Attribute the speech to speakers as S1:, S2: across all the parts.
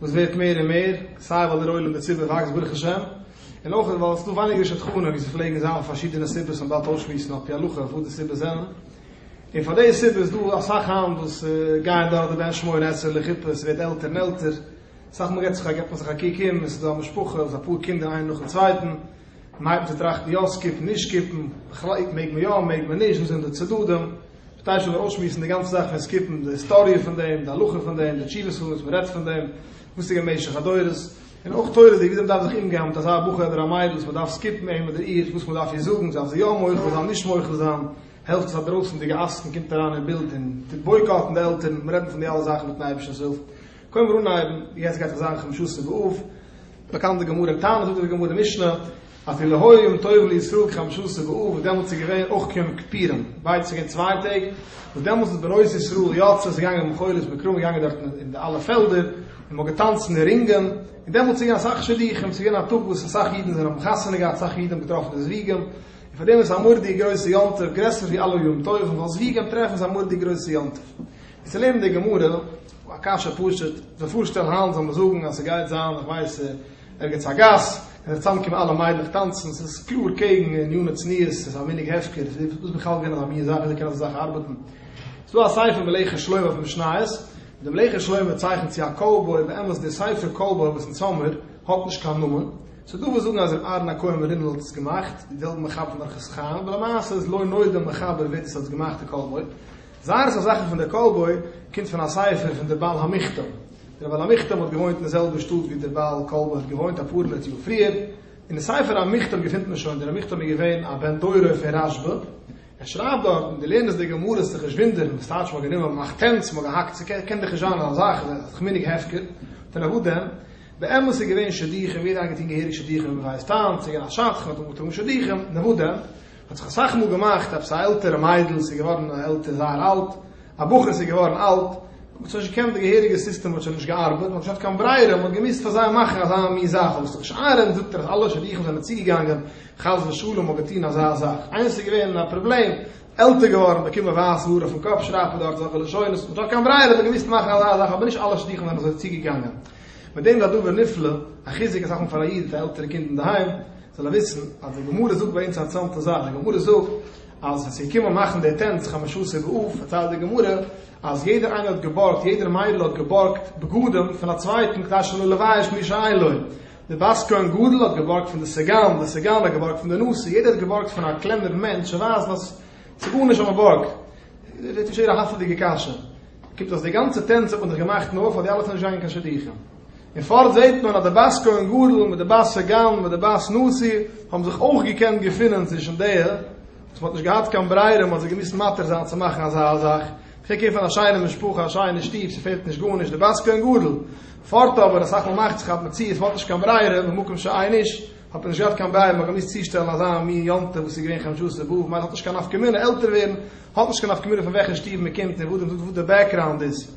S1: וואס ווערט מער און מער, סיי ווייל דער עולם דערצו וואקסט ברוך השם, און אויך ווייל עס איז דא ווייניגער שדכנים, ווי עס פלעגן זיין, פארשידענע סיבות וואס מען דארף אויסשמועסן על פי הלכה וואס די סיבות זענען, און פאר די סיבה איז דא אסאך היינט וואס גייען דורך די בן שמונה עשרה לחופה, עס ווערט עלטער און עלטער, סאך מאל געבט מען זיך א קוק אום און עס איז דא א משפחה וואס אפאר קינדער איינער נאכן צווייטן, מען הייבט אן צו טראכטן יא סקופן נישט סקופן, בכלל מעג מען יא מעג מען נישט, וואס זענען די צדדים. כ'טאר שוין אויסשמועסן די גאנצע זאך פון סקיפן, די היסטאריע פון דעם, די הלכה פון דעם, די תשובות פון וואס מען רעדט פון דעם, וואס ס'איז געווען במשך הדורות, און אויך תורה'דיג וויאזוי מען דארף זיך אומגיין מיט אזא בחור אדער א מיידל וואס מען דארף סקיפן אים אדער איר, וואס מען דארף איר זאגן, זאל זי יא מוחל זיין, נישט מוחל זיין, העלפט עס א דרויסענדיגע עסקן קומט אריין אין בילד און טוט בויקאטן די עלטערן, מיר רעדן פון די אלע זאכן מיטן אייבערשטנ'ס הילף, קוים מיר אנהייבן, יעצט גייט זיך זיין חמשות אב, באקאנט די גמרא, טענה'ט זאגט די גמרא, משנה. אפילו היום טוב לישראל כחמשה עשר באב וואס דעמאלטס איז געווען אויך כיום כיפורים ווייט צוריק אין צוויי טעג וואס דעמאלטס איז בנות ישראל יוצאות איז געגאנגען מיט בחורות מקרא מ'איז געגאנגען דארט אין די אלע פעלדער און מ'האט געטאנצט אין די רינגען און דעמאלטס איז געווען אסאך שידוכים ס'איז געווען א טאג וואס אסאך אידן זענען האבן חתונה געהאט אסאך אידן האבן געטראפן די זוויגים און פאר דעם איז עס א מורדיג גרויסע יום טוב גרעסער ווי אלע יום טובים ווייל זוויגים טרעפן איז א מורדיג גרויסע יום טוב און צו לערנען די גמרא א קשיא פשוט זיך פארשטעלן היינט זאל מען זאגן אז ס'גייט זיין איך ווייס ערגעץ א גאס, און זיך צוזאמקומען אלע מיידלעך טאנצן, ס'איז קלאר קעגן עניני צניעות, ס'איז א מנהג הפקר, איז דאס בכלל געווען אזא מין זאך, וויאזוי קען אזא זאך ארבעטן? ס'איז דא א ספר מלאכת שלמה אויף משניות, ווי דער מלאכת שלמה צייכנט צו א קאובוי, באמת דער ספר קאובוי וואס אונז האמיר, האט נישט קיין נאמען, ס'איז דא וואס זאגן אז ר' אהרן הכהן מרינל האט עס געמאכט, די זעלבע מחבר פון אורחות חיים, אבער למעשה איז לא נודע דער מחבר ווער דאס האט געמאכט די קאובוי, זייער אסאך זאכן פון דער קאובוי קומט פון א ספר פון דער בעל המכתב, דער בעל המכתב האט געוואוינט אין די זעלבע שטאט ווי דער בעל קולמע האט געוואוינט אפאר הונדערט יאר פריער, אין די ספר המכתב געפינט מען שוין, דער המכתב איז געווען א בן תורה פון רש ב, ער שרייבט דארטן, דו לערנסט די גמרות זיך נישט וואונדערן וואס טייטש מ'האט גענומען מ'מאכט טענץ מ'האט געהאקט ס'קען דאך נישט זיין אזא זאך מנהג הפקר, דען אוואו דען? באמת איז געווען שידוכים, יעדער איינער האט געטון געהעריג שידוכים ווי מ'ווייסט היינט, ס'איז געווען א שדכן, מ'האט אנגעטראגן שידוכים, און אוואו דען? האט זיך אסאך מאל געמאכט עפעס א עלטערע מיידל איז געווארן עלטער זייער אלט, א בחור איז געווארן אלט, האט מען שוין נישט געקענט די געהעריגע סיסטעם האט שוין נישט געארבעט, מען האט נישט געהאט קיין ברירה, מען האט געמוזט פאר זיי מאכן אזא מין זאך, אבער ס'איז דאך נישט ארענט, זאגט ער אז אלע שידוכים זענען צוגעגאנגען, חס ושלום האט געטון אזא זאך, איינס איז געווען א פראבלעם, עלטער געווארן, באקומען ווייסע האר אויפן קאפ, שרייבט מען דארט אזעלכע לשונות, מען האט נישט געהאט קיין ברירה, מען האט געמוזט מאכן אזא זאך, אבער נישט אלע שידוכים זענען אזוי צוגעגאנגען, מיט דעם איז א דבר נפלא, א חיזוק אסאך מאל פאר א איד מיט א עלטערע קינד אינדערהיים. זאל ער וויסן אז די גמרא זאגט ביי אונז א אנטזאמטע זאך, די גמרא זאגט אז ווען ס'איז געקומען מאכן די טענץ חמשה עשר באב פארציילט די גמרא אז יעדער איינער האט געבארגט, יעדער מיידל האט געבארגט בגדים פון א צווייטן כדי שלא לבייש מי שאין לו, די בת כהן גדול האט געבארגט פון די סגן, די סגן האט געבארגט פון די נשיא, יעדער האט געבארגט פון א קלענערן מענטש צו ווייזן אז ס'גארנישט אז מ'בארגט. פרעגט שוין יעדער א האפעדיגע קשיא. קומט אז די גאנצע טענץ האט מען דאך געמאכט נאר פאר די אלע ס'זענען נישט געגאנגען קיין שידוכים. און פארט זעט מען אז די בת כהן גדול מיט די בת סגן מיט די בת נשיא האבן זיך אויך געקענט געפינען צווישן די וואס מען האט נישט געהאט קיין ברירה מען האט זיי געמוזט מתיר זיין צו מאכן אזא זאך מ'קען קעיר פון א שיינע משפחה א שיינע שטוב ס'פעלט נישט גארנישט די בת כהן גדול פארט אבער אסאך מאל מאכט זיך אז מען צי עס מ'האט נישט קיין ברירה במקום שאין איש האט מען נישט געהאט קיין ברירה מ'האט געמוזט צושטעלן אזא מין יום טוב וואס איז געווען חמשה עשר באב מילא האט נישט קיין נפקא מינה עלטער ווערן האט נישט קיין נפקא מינה פון וועלכע שטוב מ'קומט און וואס די בעקראונד איז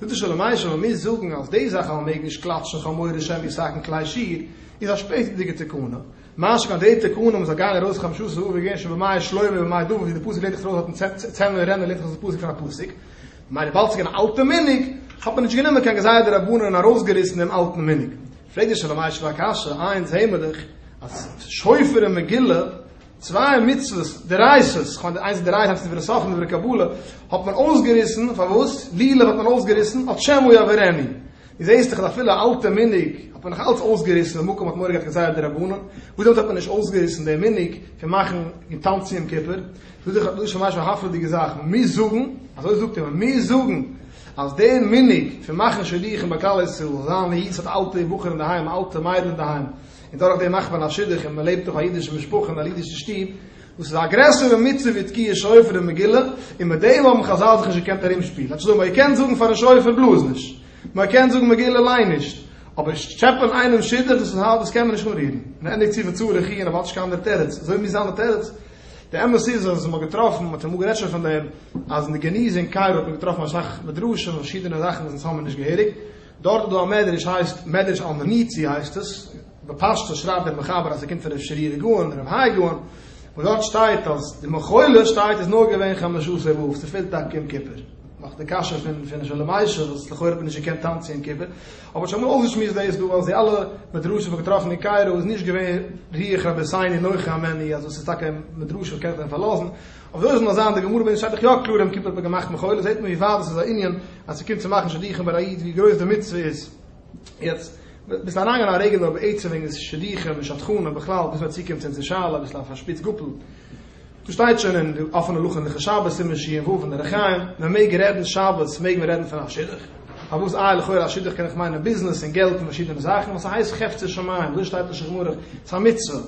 S1: זאגט די שלום עליכם אז מיר זאגן אז די זאך אז מען מעג נישט קלאטשן חמורים שם ישחקן כלי שיר איז א שפעטערדיגע תקנה, משא כ אז די תקנה מ'זאל גיין ארויס חמשה עשר אא וו געווען שוין במאי שלמה ובמאי דוד ווי די פסוק לערנט זיך ארויס אויפן צענער רעמל לערנט זיך אויס די פסוק פון א פסוק, ממילא וויבאלד ס'איז געווען אן אלטע מנהג האט מען נישט גענומען קיין גזירת די רבנן און ארויסגעריסן דעם אלטן מנהג. פרעגט די שלום עליכם א קשיא, איינס זעהן מיר דאך אז שופר און מגילה צוויי מצוות דרשות, כ'מיין די איינס דרייען האט עס דברי סופרים דברי קבלה, האט מען אויסגעריסן, פארוואס? לולב האט מען אויסגעריסן, אט שמא יעברני. דו זעסט דאך אז אפילו א אלטע מנהג האט מען נאך אלץ אויסגעריסן ווען מקום האט מורא געהאט כזית דרבנן, וואס דעמאלטס האט מען נישט אויסגעריסן די מנהג פון מאכן און טאנצן יום כיפור? דאס איז דאך ממש א הפלא'דיגע זאך. מיר זאגן, אזוי זאגט ער, מיר זאגן אז די מנהג פון מאכן שידוכים ביי כלל ישראל, זיין א איד וואס האט אלטע בחורים אינדערהיים, אלטע מיידל אינדערהיים, און דורך דעם מאכט מען א שידוך און מען לעבט אויף א אידישע משפחה אין א אידישע שטוב, וואס איז א גרעסערע מצוה ווי תקיעת שופר און מגילה, און מיט דעם האבן חזל זיך נישט געקענט ארומשפילן, אנשטאט זאגן מען קען זאגן פארן שופר בלאז נישט, מען קען זאגן מגילה ליין נישט, אבער טשעפען איינעם שידוך דאס איז הארב דאס קען מען נישט אנרירן, און ענדיגט צו וצור יחי' און ער באהאלט נישט קיין אנדערע תירוץ, אזוי מוז זיין די תירוץ, די אמת איז אז מען האט געטראפן, מען האט אמאל גערעדט שוין פון דעם, אז אין די געניז אין קאירא האט מען געטראפן אסאך מדרשים און פארשידענע זאכן וואס אונז האבן מיר נישט געהעריג, דארט איז דא א מדרש הייסט מדרש אלמניצי הייסט עס, בפשטות שרייבט דער מחבר אז עס קומט פון ר' שרירא גאון, ר' האי גאון, וואס דארט שטייט אז די מחולות שטייט איז נאר געווען חמשה עשר באב, עס פעלט טאקע יום כיפור, נאך די קשיא פון פון שלום עישר וואס לכאורה האט מען נישט געקענט טאנצן יום כיפור, אבער שוין אמאל אויסגעשמועסט דאס דא אז די אלע מדרשים וואס געטראפן אין קאירא איז נישט געווען רוח רבי סייני נוחה ממני אז דאס איז טאקע מדרש וואס קען זיך פארלאזן, אבער זאל עס נאר זיין די גמרא ווען עס שטייט דאך יא קלאר יום כיפור האט מען געמאכט מחול זעהט מען ווי ווייט דאס איז א ענין אז ס'קומט צו מאכן שידוכים ביי א איד ווי גרויס די מצוה איז יעצט ביסט אריינגעגאנגען א רגע נאר בעצם וועגן די שידוכים און שדכנים און בכלל ביז מ'צוקומט צו אונזער שאלה אביסל אויף א שפיץ גאפל דאס שטייט שוין אין די אפענע לוח הלכות שבת סימן ש ע ו אין אורח חיים מען מעג רעדן שבת מעג מען רעדן פון א שידוך פארוואס איי לכאורה א שידוך קען אויך מיינען ביזנעס און געלט און פארשידענע זאכן וואס ס'הייסט חפצי שמים וואס שטייט אין שולחן ערוך ס'איז א מצוה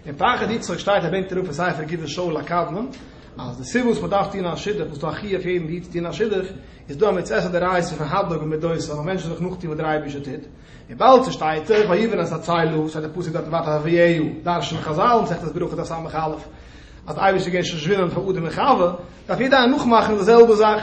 S1: אין פרחת יצחק שטייט ער בענקט אראפ אין ספר גבעת שאול הקדמון אז די סיבה וואס מען דארף טון א שידוך וואס דא א חיוב יעדן איד צו טון א שידוך איז דא א מצות א דאורייתא פון הדלק במידות זאל א מענטש זיך נאכטון וואס דער אייבערשטער טוט און באלד צושטייט זיך ויבן את הצלו שטייט די פסוק דארט וואטאווער ויהיו דרש'נען חזל אין מסכת ברכות דף סמך א' אז די אייבערשטער איז געווען שושבינה פאר אדם און חוה דארף יעדער איינער נאכמאכן די זעלבע זאך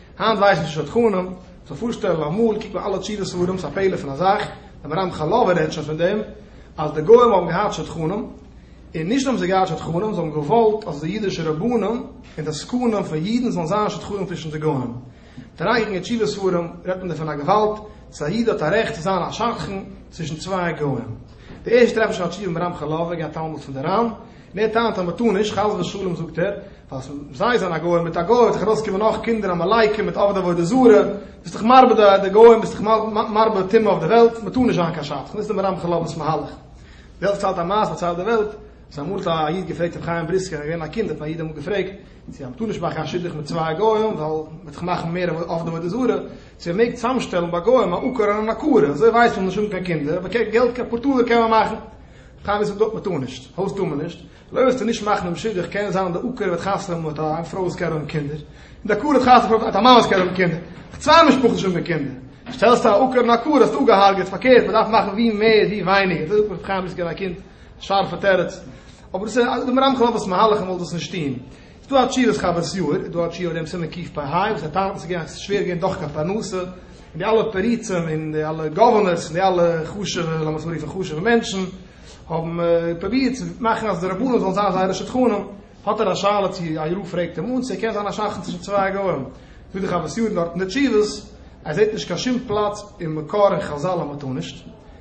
S1: היינט ווייסן שוין שדכנים, זאל פארשטעלן אמאל, קוק ביי אלע תשובה ספרים, ס'איז א פלא פון א זאך, דער מהרם חלב'ער רעדט שוין פון דעם, אז די גוים האבן געהאט שדכנים, און נישט נאר האבן זיי געהאט שדכנים, זיי האבן געוואלט אז די אידישע רבנים און די עסקנים פון אידן זאלן זיין שדכנים צווישן די גוים. וועט אריינקוקן אין תשובה ספרים, רעדט מען דא פון א געוואלד, אז א איד האט א רעכט צו זיין א שדכן צווישן צוויי גוים. די ערשטע טרעפן שוין א תשובה מהרם חלב'ער, געהאט תלמוד פון די רמ, דער טענה'ט אז מ'טאר נישט, חס ושלום זאגט ער, ווייל זיי זענען א גוי, מיט א גוי וועט זיך ארויסקומען נאך קינדער עמלקים מיט עובדי עבודה זרה, ביסט דאך מרבה די גוים, ביסט דאך מרבה טומאה אויף די וועלט, מ'טאר נישט זיין קיין שדכן, דאס איז דעם רמ חלב'ס מהלך. דער זעלבסט צייט א מעשה וואס ציילט די וועלט, אז אמאל האט א איד געפרעגט רבי חיים בריסקער, ער איז געווען א קינד, האט א איד אמאל געפרעגט, צו אז מ'טאר נישט מאכן א שדוך מיט צוויי גוים, ווייל מ'וועט דאך מאכן מער עובדי עבודה זרה, צו מ'מעג צוזאמשטעלן ביי גוים א עקור און אן עקרה, אזוי ווייסט מען אז מ'זאל נישט האבן קיין קינדער, אבער געלט, אפאר טאלער קען מען מאכן. טענות וואס מען טאר נישט, הויז טאר מען נישט, לויט וואס ס'איז נישט מחנה בשידוך קען זיין אז די עקרת וועט חתונה האבן מיט א פרוי וואס קען האבן קינדער, און די עקרת חתונה האט מיט א מאן וואס קען האבן קינדער, אויך צוויי משפחות נישט האבן קינדער, שטעלסטו א עקרת און עקרת האסטו אפגעהארגעט, פארקערט מען דארף מאכן ווי מער ווי ווייניגער, דאס איז אויך בחיימ'דיג צו געבן א קינד, שארפע תירוץ, אבער דאס איז דעם רמחל אב'ס מהלך, ער וואלט דאס נישט טוהן. ס'דא א תשובת חוות יאיר, איז דא א תשובה אויף דעם סימן קיפ א היי וואס ער טענה'ט אז ס'איז געווען שווער געווען דאך קיין פרנסה, און די אלע פריצים און די אלע גאווערנערס און די אלע חשוב'ע, לאמיר עס אנרופן חשוב'ע מענטשן, האבן פרובירט צו מאכן אז די רבנים זאלן זיין זייערע שדכנים. האט ער א שאלה צו יאיר פרעגט אים אן צו ער קען זיין א שדכן צווישן צוויי גוים. זאגט די חוות יאיר דארט אין די תשובות אז ער זעט נישט קיין שום פלאץ אין מקור אין חזל אז מ'טאר נישט.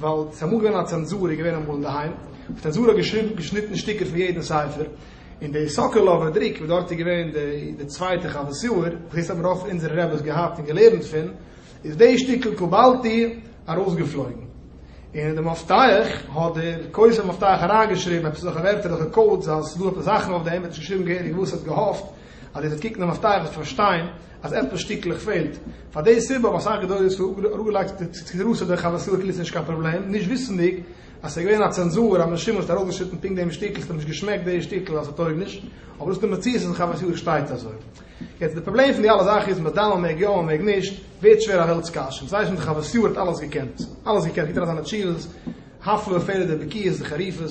S1: ווייל ס'איז אמאל געווען א צענזור איז געווען אמאל אינדערהיים, האט צענזור האט געשריבן געשניטן שטיקער פון יעדן ספר, און די סאקאלאווער דריק וואס דארט איז געווען די די צווייטע חוות סעור, וואס דאס האבן רוב פון אונזערע רעבעס געהאט און געלערנט פון, איז די שטיקל קבלתי ארויסגעפלויגן, און אין די מפתח האט דער כותב מפתח אריינגעשריבן עפעס אזעלכע ווערטער אזעלכע קאודס אז ס'איז דא עפעס זאכן אויף דעם, ער האט נישט געשריבן געהעריג וואס ער האט געהאפט. אז איר זאלט קוקן און אויף טייער וועט פארשטיין אז עפעס שטיקלעך פעלט, פאר די סיבה האבן אסאך גדולי ישראל אראפגעלייגט צו רוסע דורך א וועסילקעל איז נישט קיין פראבלעם, נישט וויסענדיג אז סאיז געווען א צענזור אז מען שימעשט ארויסגעשניטן פונקט דעם שטיקל ס'האט נישט געשמעקט די שטיקל אז ס'טויג נישט, אבער דאס איז די מציאות אז דורך א וועסילקעל שטייט אזוי. יעצט די פראבלעם פון די אלע זאכן איז מדאן מען מעג יא מען מעג נישט ווערט שווער א וועלטס קשיא, און ס'ווייסט מען דורך א וועסילער האט אלעס געקענט אלעס געקענט קוקט אריין זיינע טשילס הפלא ופלא די בקיאות די חריפות.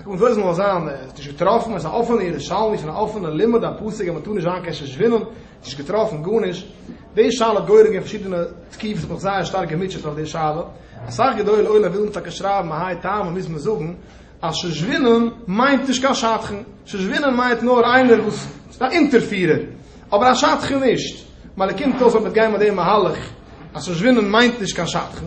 S1: א קומט אויס מוז זיין ער האט נישט געטראפן עס איז א אפענע ירושלמי פון א אפענע לימוד א פסק אז מען טאר נישט זיין קיין שושבינען נישט געטראפן גארנישט די שאלה האט גורם געווען פארשידענע תקיפות איך האב מיך זייער שטארק געמוטשעט אויף די שאלה אסאך גדולי עולם ווילן טאקע שרייבן מהאי טעמא מוז מען זאגן אז שושבינען מיינט נישט קיין שדכן שושבינען מיינט נאר איינער וואס איז א אונטערפירער אבער א שדכן נישט מיילער קומט אויס אז מען וועט גיין מיט די מהלך אז שושבינען מיינט נישט קיין שדכן.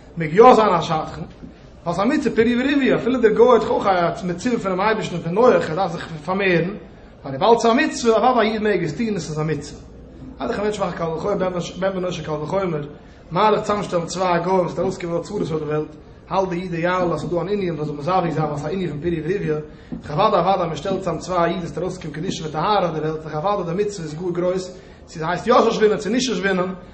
S1: מעג יא זיין א שדכן, ווייל ס'איז א מצוה פרי ורביה, אפילו דער גוי האט דאך אויך א מצוה פונעם אייבערשטן פון נוח, ער דארף זיך פארמערן, ווייל וויבאלד ס'איז א מצוה, אוודאי א איד מעג עס טון און ס'איז א מצוה. אט דאך א מענטש מאכן קל וחומר, בן בנו של קל וחומר, מהלך צוזאמשטעלן צוויי גוים וואס האט ארויסגעקומען אלע צרות אויף דער וועלט, האלט דער איד אידיאל אז ס'איז דא אן ענין פון זיך מזווג זיין ווייל ס'איז א ענין פון פרי ורביה, דאך אוודאי אוודאי מען שטעלט צוזאם צוויי אידן ס'וועט ארויסקומען קדושה וטהרה אויף דער וועלט, דאך אוודאי די מצוה איז גאר גרויס, צו ס'הייסט יא שושבינים צו נישט שושבינים,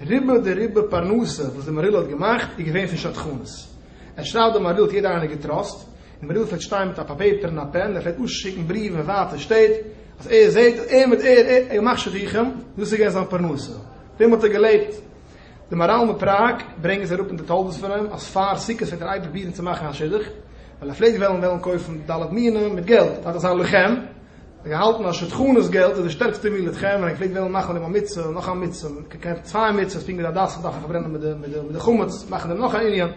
S1: רובא דרובא פרנסה וואס די מהריל האט געמאכט איז געווען פון שדכנות. ער שרייבט די מהריל האט יעדער איינער געטראסט, די מהריל פלעגט שטיין מיט א פאפעפער און א פען און ער פלעגט אויסשיקן בריוון אין ווייטע שטעט אז ער זעהט אז ער מיט ער ער געמאכט שידוכים, דאס איז געווען זיין פרנסה, פון דעם האט ער געלעבט. די מהרל מפראג ברענגען זיי אראפ אין די תולדות פון אים אז פאר סוכות פלעגט ער אייביג פרובירן צו מאכן א שידוך, ווייל ער פלעגט וועלן וועלן קויפן ד' מינים מיט געלט, דארף דאך זיין לוחם, זיי האלטן אז שדכנות געלט איז די שטערקסטע מיל לתכנן און איך פלעג וועלן מאכן אויב א מצוה און נאך א מצוה און כ ק האט צוויי מצוות פונקט ווי די הדסים דארפן פארברענען מיט די חמץ מאכן דעם נאך א ענין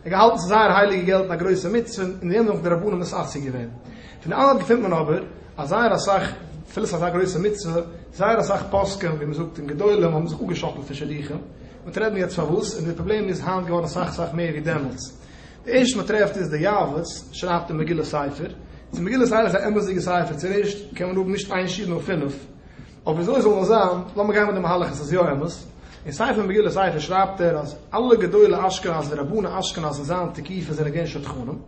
S1: איך האב געהאלטן ס'איז זייער הייליגע געלט און א גרויסע מצוה און אין דעם זענען אויך די רבנים ניס עסוק געווען פון די אלעם געפינט מען אבער אז זייער אסאך אפילו ס'איז אזא גרויסע מצוה זייער אסאך פוסקים ווי מ'זאגט און גדולים האבן זיך אפגעשאקלט פון שידוכים מ'וועט רעדן יעצט פארוואס און די פראבלעם איז היינט געווארן אסאך אסאך מער ווי דעמאלטס. די ערשטע מען טרעפט איז די יעבץ שרייבט די מגילה ספר, צו מגילה ספר איז א אמת'דיגע ספר, צו רעשט קען מען האבן נישט איין שיעור נאר פינף, אבער וויאזוי זאל נאר זיין, לאמיר גיין מיט די מהלך אז ס'איז יא אמת, אין ספר מגילה ספר שרייבט ער אז אלע גדולי אשכנז ורבני אשכנז אין זיין תקופה זענען געווען שדכנים,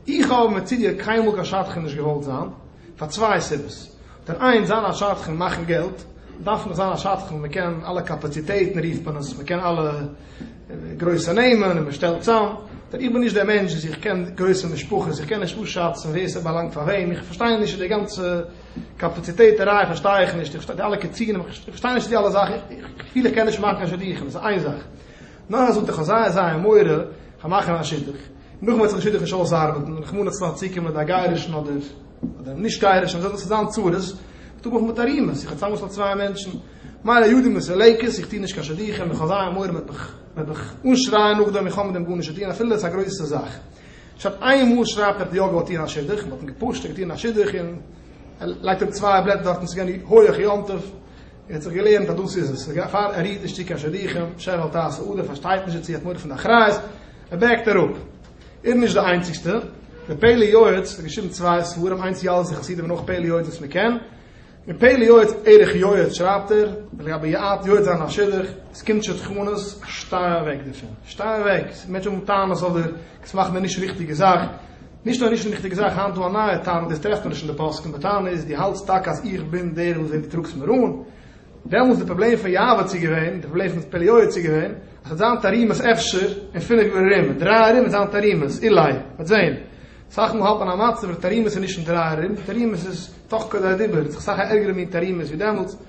S1: איך האב אבער מצידי קיינמאל קיין שדכן נישט געוואלט זיין, פאר צוויי סיבות. דער איינס, זיין א שדכן מאכן געלט, דארף מען זיין א שדכן, מען קען אלע קאפאציטעטן רופט מען עס, מען קען אלע גרויסע נעמען און מען שטעלט צאם. איך בין נישט דער מענטש וואס איך קען גרויסע משפחות, איך קען נישט אפשאצן ווער ס'באלאנגט פאר וועם, איך פארשטיי נישט די גאנצע קאפאציטעטעריי פארשטיי איך נישט, איך פארשטיי די אלע קצינים, איך פארשטיי נישט די אלע זאכן, איך פיל איך קען נישט מאכן קיין שדוכים, דאס איז איין זאך. נאך א זונטאג כ'האב זייער זייער מורא, כ'האב מאכן א שידוך. נאכן וועט זיך די שידוך נישט אויסארבעטן, רחמנא לצלן צוקומען מיט א גייערישן אדער נישט גייערישן, וואס זענען זיין צרות? איך טו מיך מיט ארימעס, איך האב צוזאמגעשטעלט צוויי מענטשן, מיינע יודען מיט סעלעקעס, איך טו נישט קיין שידוכים, איך האב זייער מורא מען וועט מיך אנשרייען נאכדעם, איך האב מיט דעם גארנישט צו טון אפילו עס איז א גרויסע זאך. שטאט איין מאל שרייבט ער האט יא געוואלט טון א שידוך, מ'האט אים געפושט, ער האט געטון א שידוך און ער לייגט אראפ צוויי בלעטער דארטן, ס'איז געווען הויעך יום טוב, ער האט זיך געלערנט אז דאס איז עס, פאר ער רירט נישט צו קיין שידוכים, שר אל תעשה אדער פארשטייט נישט דערצו, האט מורא פון די אחריות, ער בעקט אראפ. איז נישט די איינציגסטע, דער פלא יועץ האט געשריבן צוויי ספרים, איינס יאלזע חסידים און נאך פלא יועץ וואס מען קען, אין פלא יועץ ערך יועץ שרייבט ער, לגבי יעט יועץ זיין א שידוך, עס קומט שדכנות, שטיי אוועק דערפון, שטיי אוועק, מענטשן האבן טענות אויף דיר, עס מאכט מען נישט ריכטיגע זאך. נישט נאר נישט ריכטיגע זאך, היינט דא א נייע טענה, דאס טרעפט מען נישט אין די פוסקים, די טענה איז דו האלטסט טאקע אז איך בין דער וואס זעט דו טראגסט מערון, דעמאלטס די פראבלעם פון יהוה צו געווען, די פראבלעם פון פלאי יואל צו געווען, אז ס'וועט זיין תרימות אפשר אין פינף יאר ארום, דריי ארום וועט זיין תרימות, אולי, מ'וועט זען, סאך מאל האלט מען א מצב אז תרימות איז נישט אין דריי ארום, תרימות איז תוך כדי הדיבור, ס'איז זיך סאך א ערגערע מין תרימות ווי דעמאלטס.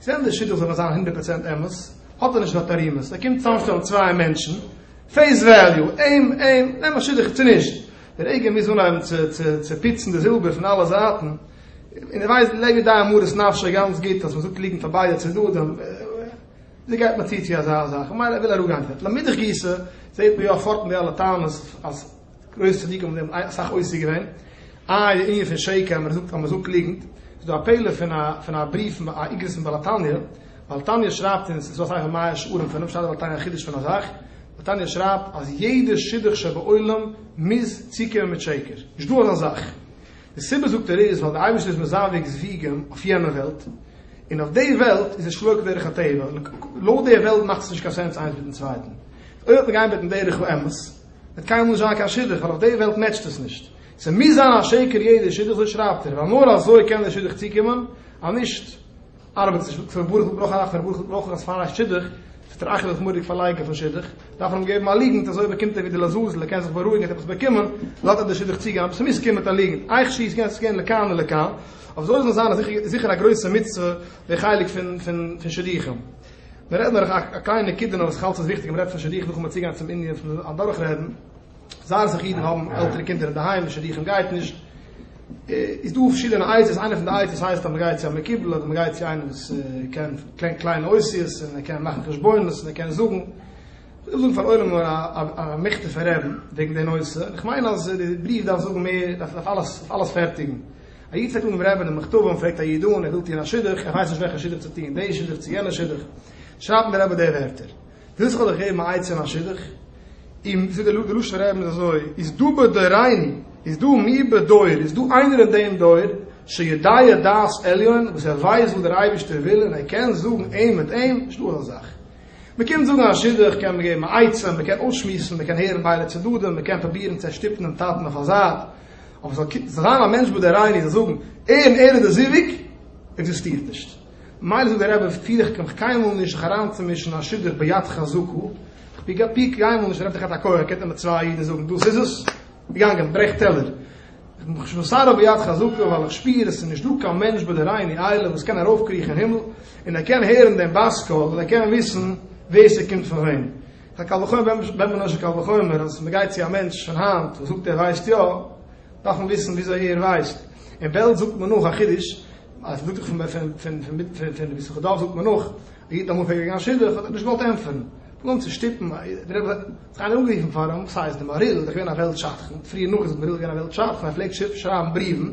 S1: זענען די שיטות אבער זיין הונדערט פראצענט אמת, האט ער נישט נאר תערימות, ער קומט צוזאמשטעלן צוויי מענטשן, פעיס וועליו, אים, אים, נעם א שידוך צו נישט, דער אייגער מוז אנהייבן צו צו צו פיצן די זילבער פון אלע זייטן, און ער ווייסט לב יודעי מרת נפשו גאנץ גוט אז מ'זאגט ליגנט פאר ביידע צדדים, ווי גייט מען צו צו אזא זאך, ממילא ער וויל אראפגיין פון דארט, לאמידך גיסא, זעהט מען יא פארט מיט די אלע טענות אז. גרויסע צדיקים האבן דעם אסאך עוסק געווען. איי די ענין פון שקר, אז מען זאגט ליגנט, איז דא א פעלער פון א בריוו פון א איגרות פון בעל התניא, בעל התניא שרייבט אונז, ס'איז דא אסאך מאה שערים פון אים, שרייבט בעל התניא א חידוש פון א זאך, בעל התניא שרייבט אז יעדע שידוך שבעולם מוז צוקומען מיט שקר, נישט דא אזא זאך, די סיבה זאגט ער איז ווייל די אייבערשטער איז מזווג זוויגים אויף יענע וועלט, און אויף די וועלט איז עס שלא כדרך הטבע, לויט די וועלט מאכט עס נישט קיין סענס איינס מיטן צווייטן, אויב וועט מען גיין מיטן דרך האמת, וועט קיינמאל נישט זיין קיין שידוך ווייל אויף די וועלט מעטשט עס נישט, ס'מוז זיין א שקר יעדע שידוך אזוי שרייבט ער ווייל נאר אזוי קען די שידוך צוקומען, אז נישט ארבעט עס נישט, הקדוש ברוך הוא ברויך א נחת, הקדוש ברוך הוא ברויך אז פאר א שידוך וועט ער אייך אזוי מורא'דיג פארלייגן פון שידוך, דארף ער אים געבן א ליגנט אזוי באקומט ער ווי די לעזאזל ער קען זיך בארואיגן ער האט עפעס באקומען, לאזט ער די שידוך צוגיין אבער ס'מוז קומען מיט א ליגנט, אייך שי' ס'קען זיך געבן לכאן או לכאן, אבער ס'זאל אויך זיין זיכער א גרויסע מצוה די חלק פון שידוכים. מען רעדט דורך א קליינע נקודה נאר וואס איך האלט ס'איז וויכטיג מען רעדט פון שידוכים נאכן צוגיין צום ענין פון אדורך רעדן זייער אסאך אידן האבן עלטערע קינדער אינדערהיים די שידוכים גייט נישט איז דא פארשידענע עצות איינע פון די עצות הייסט אז מען גייט צו א מקובל אדער מען גייט צו איינעם וואס קען קען קליינע אותיות און ער קען מאכן חשבונות און ער קען זאגן איך זאג פאר עולם נאר א מכתב פון רעדן וועגן די נושא איך מיין אז די בריוו דארף זאגן מער דארף אלעס אלעס פערטיגן. א איד צייגט אן דעם רעבין מכתבים און פרעגט א איד אן, ער וויל טוען א שידוך, ער ווייסט נישט וועלכע שידוך צו טוען, די שידוך צו יענע שידוך, שרייבט אים דער רבי די ווערטער, ווילסט איך זאל דיך געבן א עצה אין א שידוך? און זאגט דער לשון רעבין איז אזוי, איז דא בדורינו, איז דא מי בדור, איז דא איינער אין דעם דור, שיודע דעת עליון, וואס ער ווייסט וואס דער אייבערשטער וויל און ער קען זאגן אים מיט אים, נישט דא אזא זאך. מען קומט זאגן א שידוך קען מען געבן א עצה, מען קען אויסשמועסן, מען קען הערן ביידע צדדים, מען קען פרובירן צו ערשטופן דעם טאטן אויף א זייט, אבער ס'זאל קומט זיין א מענטש באדערייען איר און זאגן ערן ערן די זיווג עקזיסטירט נישט. מילא זאגט דער רבי פיר איך מיך קיינמאל נישט זיך אריינצומישן אין א שידוך ביד חזקה, כ'פיר גיי פיר קיינמאל נישט רעדט דיך האט א כח קענט איר מיט צוויי אידן זאגן דאס איז עס? געגאנגען ברעך טעלער. איך בין נישט מסרב ביד חזקה ווייל איך שפיר עס איז נישט דא קיין מענטש באדערייען איר איילער וואס קען ארויפקריכן אין הימל און ער קען הערן דעם בת קול און ער קען וויסן ווער ס'קומט פון וועם. א קל וחומר ווען ווען מען נאשט קל וחומר אז מען גייט צו א מענטש שוין היינט און זאגט ער ווייסט יא דארף מען וויסן וויאזוי ער ווייסט אין בעלז זאגט מען נאך א חידוש אז מ'זאגט פון פון פון פון מיט פון פון ביז כדארף זאגט מען נאך א איד אמאל פרעגט וועגן א שידוך האט ער נישט געוואלט ענטפערן פלאנט צו שטופן א איד דער רבי האט זיך איינער אנגערופן פאר אים וואס הייסט די מהריל איז דאך געווען א וועלט שדכן פריער נאך איז מהריל געווען א וועלט שדכן ער פלעגט שרייבן בריוון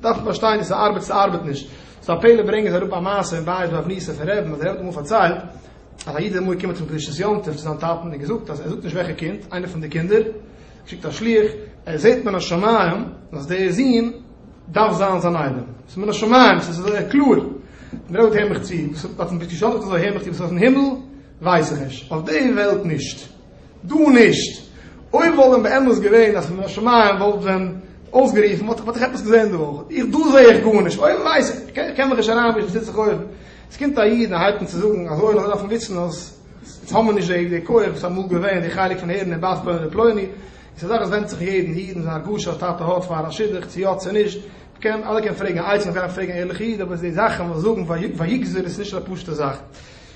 S1: דארף מען פארשטיין צו ס'ארבעט צו ס'ארבעט נישט. ס'איז א פלא ברענגען זיי אראפ א מעשה אין בית באב ניסא פון רעבן אז דער רבי האט אמאל פארציילט אז א איד איז אמאל געקומען צום קדושת יום טוב צו זיין טאטן און געזאגט אז ער זאגט נישט וועלכע קינד איינער פון די קינדער שיקט א שלוח ער זעהט מן השמים אז דער זון דארף זיין זיין איידעם ס'איז מן השמים ס'איז אזוי קלאר דער רבי האט געזאגט הער מיך צו וואס האט אים געשאדט האט ער געזאגט הער מיך צו וואס איז אויפן הימל ווייס איך נישט אויף די וועלט נישט. דא נישט. אויב וואלט ווען באמת געווען אז מן השמים וואלט ווען אויסגערופן וואלט איך עפעס געזען די וואך. איך דא זעה איך גארנישט. אויב ווייס איך, איך קען מיך נישט אריינמישן וואס טוט זיך אויבן. עס קומט א איד און הייבט אן צו זאגן אז אויל דארף מען וויסן אז יעצט האבן מיר נישט די די כח וואס אמאל געווען די חלק פון הערן אין בת פלוני ופלוני. איז א זאך וואס ווענדט זיך יעדן איד און זיין הרגשה וואס טאטע האט פאר א שידוך צו יא צו נישט. מ'קען אלע קען פרעגן עצה, מ'דארף פרעגן א ערליכע איד אבער די זאכן וואס זאגן ויגזור איז נישט א פשוטע זאך.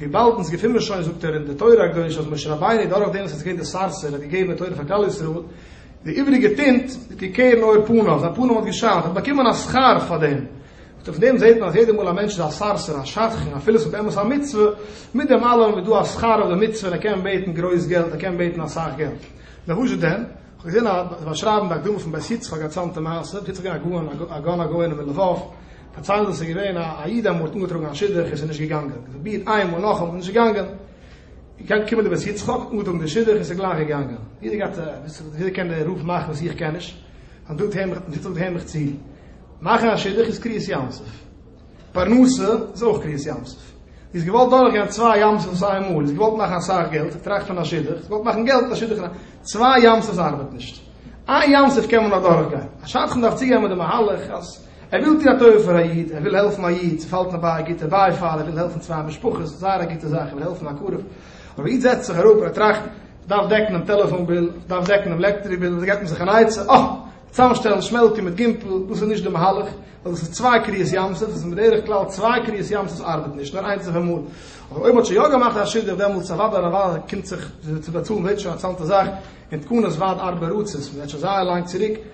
S1: וויבאלד אונז געפין מיר שוין זאגט ער אין די תורה הקדושה אז משה רבינו דורך דעם וואס ער איז געווען די סארסער האט געגעבען תורה פאר כלל ישראל, די איבריגע טינט איז געקערן אור פניו, זיין פנים האט געשיינט, ער האט באקומען א שכר פאר דעם. זאגט ער פון דעם זעט מען אז יעדע מאל א מענטש איז א סארסער, א שדכן, אפילו עס איז באמת א מצוה, מיט דעם אלעם איז דא א שכר אויף די מצוה און ער קען בעטן גרויס געלט, ער קען בעטן אסאך געלט. לוואזשע דען? כ'האב געזען א באשרייבן די הקדמה פון בית יצחק א צאנטע מעשה, בית יצחק איז געווען א גאון א גאון הגאונים אין לבוב, פארציילט אז עס איז געווען א איד אמאל האט אנגעטראגן א שידוך און עס איז נישט געגאנגען, געפרובירט איין מאל נאכאמאל איז נישט געגאנגען, געקענט קומען די בית יצחק האט אנגעטראגן די שידוך און עס איז גלייך געגאנגען, יעדער גייט יעדער קען די רוף מאכן וואס איך קען נישט, מען זאגט הער מיך מען זאגט הער מיך צו, מאכן א שידוך איז קריעת ים סוף, פרנסה איז אויך קריעת ים סוף, זי איז געוואלט דורך גיין צוויי ים סוף איין מאל, זי האט געוואלט מאכן אסאך געלט, טראכט פון א שידוך, זי האט געוואלט מאכן געלט א שידוך, צוויי ים סוף ארבעט נישט, איין ים סוף קען מען נאך דורך גיין, א שדכן דארף צוגיין מיט די מהלך אז. ער וויל טוהן א טובה פאר א איד, ער וויל העלפן א איד, ס'פאלט אים ביי א גוטע בייפאל, ער וויל העלפן צוויי משפחות, זייער א גוטע זאך, ער וויל העלפן א קרוב, אבער איד זעצט זיך אראפ און ער טראכט, איך דארף דעקן דעם טעלעפאן ביל, איך דארף דעקן דעם לעקטעריק ביל, אזוי געבט מען זיך אן עצה, אה! צוזאמשטעלן שמעלקע מיט גימפל, דאס איז נישט די מהלך, ווייל דאס איז צוויי קריעת ים סוף, עס איז בדרך כלל צוויי קריעת ים סוף ארבעט נישט, נאר איינס אויפאמאל, אבער אויב מען האט שוין יא געמאכט א שידוך דעמאלטס אוודאי אוודאי קומט זיך צו באצאלן ווערט שוין א צאנזע זאך, און תקנות ועד ארבע ארצות, מען רעדט שוין זייער לאנג צוריק,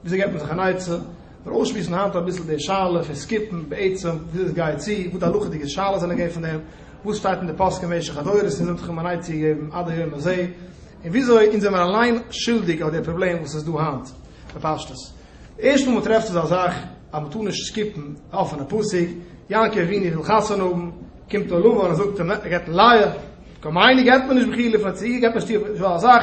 S1: וויאזוי געבט מען זיך אן עצה? מיר אויסשמועסן היינט אביסל די שאלה פון סקיפן, בעצם וויאזוי עס גייט צו, וואס די הלכה'דיגע שאלות זענען געווען פון דעם, וואס שטייט אין די פוסקים במשך הדורות און זיי זענען זיך אים אן עצה געגעבן עד היום הזה, און וויאזוי אונז זעמיר אליין שולדיג אויף די פראבלעם וואס איז דא היינט, בפשטות. די ערשטע מאל מען טרעפט אזא זאך אז מען טאר נישט סקיפן די אפענע פסוק, יעקב אבינו וויל חתונה האבן, קומט א לבן און זאגט אים, ער געבט אים לאה, כמיין געבט מען נישט בחילה פון א ציגל, געבט מען שטיר, נישט וואר אזאך.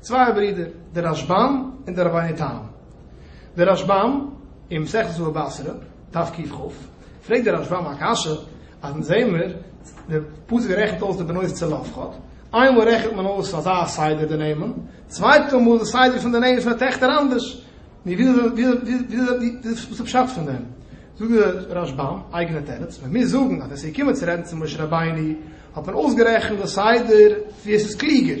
S1: צוויי ברידער, דער רשבם און דער רבינו תם. דער רשבם, אין מסכת בבא בתרא, דף ק ח, פרעגט דער רשבם א קשיא, אז אונז זעען מיר, דער פסוק רעכנט אויס די בנות צל אבחד, איינמאל רעכנט מען אויס אזא סדר די נעמען, צווייטע מאל די סדר פון די נעמען פון די טעכטער אנדערש, וואס איז די פשט פון דעם? זאגט דער רשבם, אייגענע תירוץ, ווען מיר זאגן אז ווען ס'איז געקומען צו רעדן צו משה רבינו, האט מען אויסגערעכנט די סדר ווי עס איז קלוגער,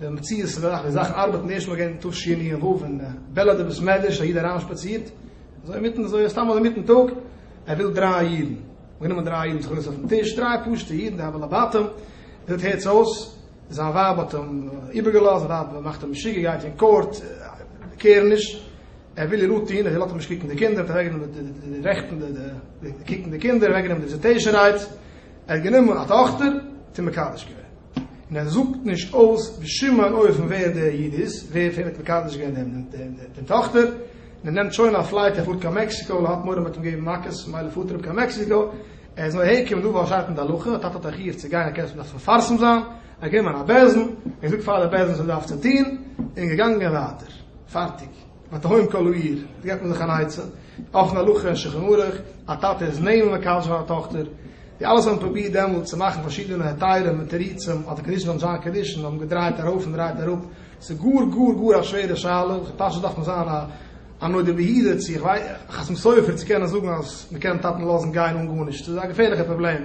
S1: די מציאות איז אזאך, די זאך ארבעט נישט, מ'האט געווען תשי י און ו' אין בעלעד אין בית מדרש, א איד אריינשפאצירט, אזוי אינמיטן אזוי סתם אזוי אינמיטן טאג, ער וויל דריי אידן, גענומען דריי אידן זיך געזעצט אויפן טיש, דריי פשוטע אידן, די הבעל הבתים ווילט הערטס אויס, זיין ווייב האט אים איבערגעלאזט, זיין ווייב מאכט אים משוגע, גייט אין קאורט, קעיר נישט, ער וויל איר אנטוהן, זי לאזט אים נישט קוקן די קינדער, מ'האט אוועקגענומען די רעכטן, די קוקן די קינדער, אוועקגענומען די וויזיטעישן רייטס, ער האט גענומען א טאכטער און מקדש געווען, און ער זאגט נישט אויס בשום אן אופן ווער דער איד איז, ווער פון אים האט מקדש געווען דעם טאכטער, און ער נעמט שוין א פלייט ער פארט קיין מעקסיקא ווייל ער האט מורא מ'וועט אים געבן מכות, ממילא פארט ער אפ קיין מעקסיקא, ער איז נאר אהער געקומען דא ווייל ער שרייט אין די הלכה, א טאטע האט א חיוב צו גיין ער קען עס נאך מפרסם זיין, ער האט גענומען א בעלזן, און געזאגט פאר די בעלזן וואס ער דארף צו טון, און געגאנגען ווייטער, פארטיג. מיט א הויען קאלוייר, דא געט מען זיך אן עצה, אויפן הלכה און שולחן ערוך, א טאטע איז נעלם ווען קאלטשער פאר א טאכטער, די אלעס האבן פרובירט דעמאלט צו מאכן פארשידענע היתרים און תירוצים, אדער קאנדישן און דזשאן קאנדישן האבן געדרייט ארויף און דרייט אראפ, ס'איז גאר גאר גאר א שווערע שאלה, וועלכע פשט דארף מען זיין א נודע ביהודה צו א חתם סופר צו קענען זאגן אז מ'קען טאטן לאזן גיין אן גארנישט, ס'איז א געפערליכע פראבלעם.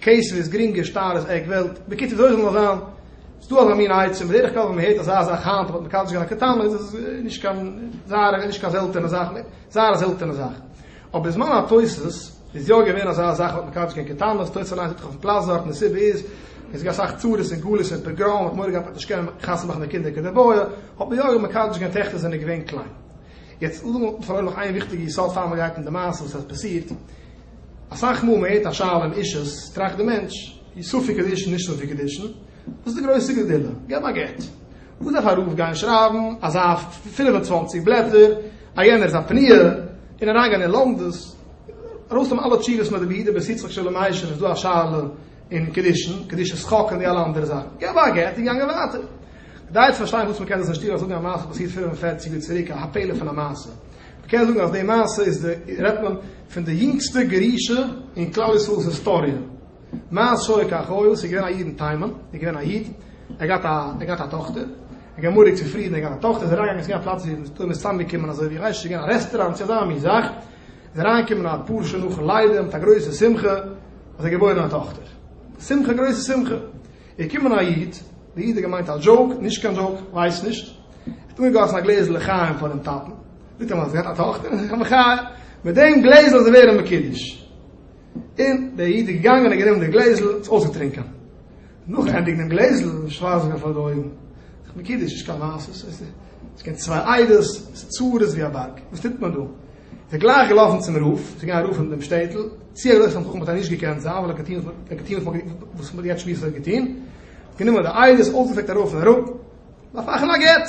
S1: קעיסעליס, גרינגע, שטארע, עק וועלט. בקיצור, וויאזוי זאל נאר זיין, ס'איז דא אזא מין עצה, בדרך כלל ווען מ'הערט אזא זאך היינט, מ'האט מקדש געווען א קטן, איז עס נישט קיין זייער, נישט קיין זעלטענע זאך, זייער א זעלטענע זאך. אבער בזמן התוס' איז יא געווען אזא זאך, מ'האט מקדש געווען קטנות, תוס' אליינס זאגט דאך אויפ'ן פלאץ דארט, און די סיבה איז, עס איז געווען אסאך צרות און גלות און פוגרום, מ'האט מורא געהאט מ'וועט נישט קענען חתונה מאכן די קינדער כדבעי, האט מען יא מקדש געווען טעכטער זענען געווען קליין. יעצט, לאמיר פארלוירן נאך איין וויכטיגע יסוד פאר מ'גייט אין די מעשה וואס עס האט פאסירט. אסאך מאל מען הערט א שאלה אין אישית טראכט די מענטש, איז ספק קידושין נישט ספק קידושין? וואס איז די גרויסע גזילה? געב א גט. וואס דארף א רב גיין שרייבן אזא פֿינף און צוואַנציק בלעטער, א יענער איז א פניה, און אריינגיין אין לומדות, ארויסנעמען אלע תשובות מיט די בידי בית יצחק של מיישער איז דא א שאלה אין קידושין, קדושת חק און די אלע אנדערע זאכן. געב א גט און געגאנגען ווייטער. כדאי צו פארשטיין וואס מען קען דאס נישט טון אזוי ווי א מעשה פאסירט פֿינף און פֿערציק יאר צוריק א הפלא פון א מעשה. מען קען זאגן אז די מעשה איז די רעדט מען. פון די יונגסטע גירושים אין כלל ישראל'ס היסטאריע. מאז שהיה כך היה, ס'איז געווען א איד אין תימן, איז געווען א איד, ער געהאט א, ער געהאט א טאכטער, ער געמאריקט צו פרידן, ער געהאט א טאכטער, איז אריינגעגאנגען צו יענע פלאץ ווי מ'איז תמיד צוזאמגעקומען אזוי ווי כ'ווייס נישט, ס'איז געווען א רעסטעראונט צו אזא מין זאך, איז אריינגעקומען א פאר שעה נאכן לידה מיט א גרויסע שמחה אז ער האט געבוירן א טאכטער. שמחה גרויסע שמחה. איז געקומען א איד, די איד האט געמיינט א דזשאוק, נישט קיין דזשאוק, כ'ווייס נישט, ער האט אנגעגאסן א גלעזל לחיים פארן טאטן, זאגט ער מיר אז ער האט א טאכטער, איך האב מיך א, מיט דעם גלעזל איז ער ווערן מקודש, און דער איד איז געגאנגען און האט גענומען די גלעזל און עס אויסגעטרינקען, נאכענדיג דעם גלעזל איז שווארץ געווארן פאר די אויגן, זיך מקודש, נישט קיין מעשה, עס איז געווען צוויי עדות, עס איז צרות ווי א בארג, וואס טוט מען דא? איז ער גלייך געלאפן צום רב, זיך געגאנגען רופן אין דעם שטעטל, צי ער איז אויך א חכם וואלט ער נישט געקענט זיין, ווייל ער האט געטון ער האט געטון וואס מ'האט יעצט שמועסט ער האט געטון, גענומען די עדות, אויסגעפרעגט הרב פון הרב, דארף מאכן א גט.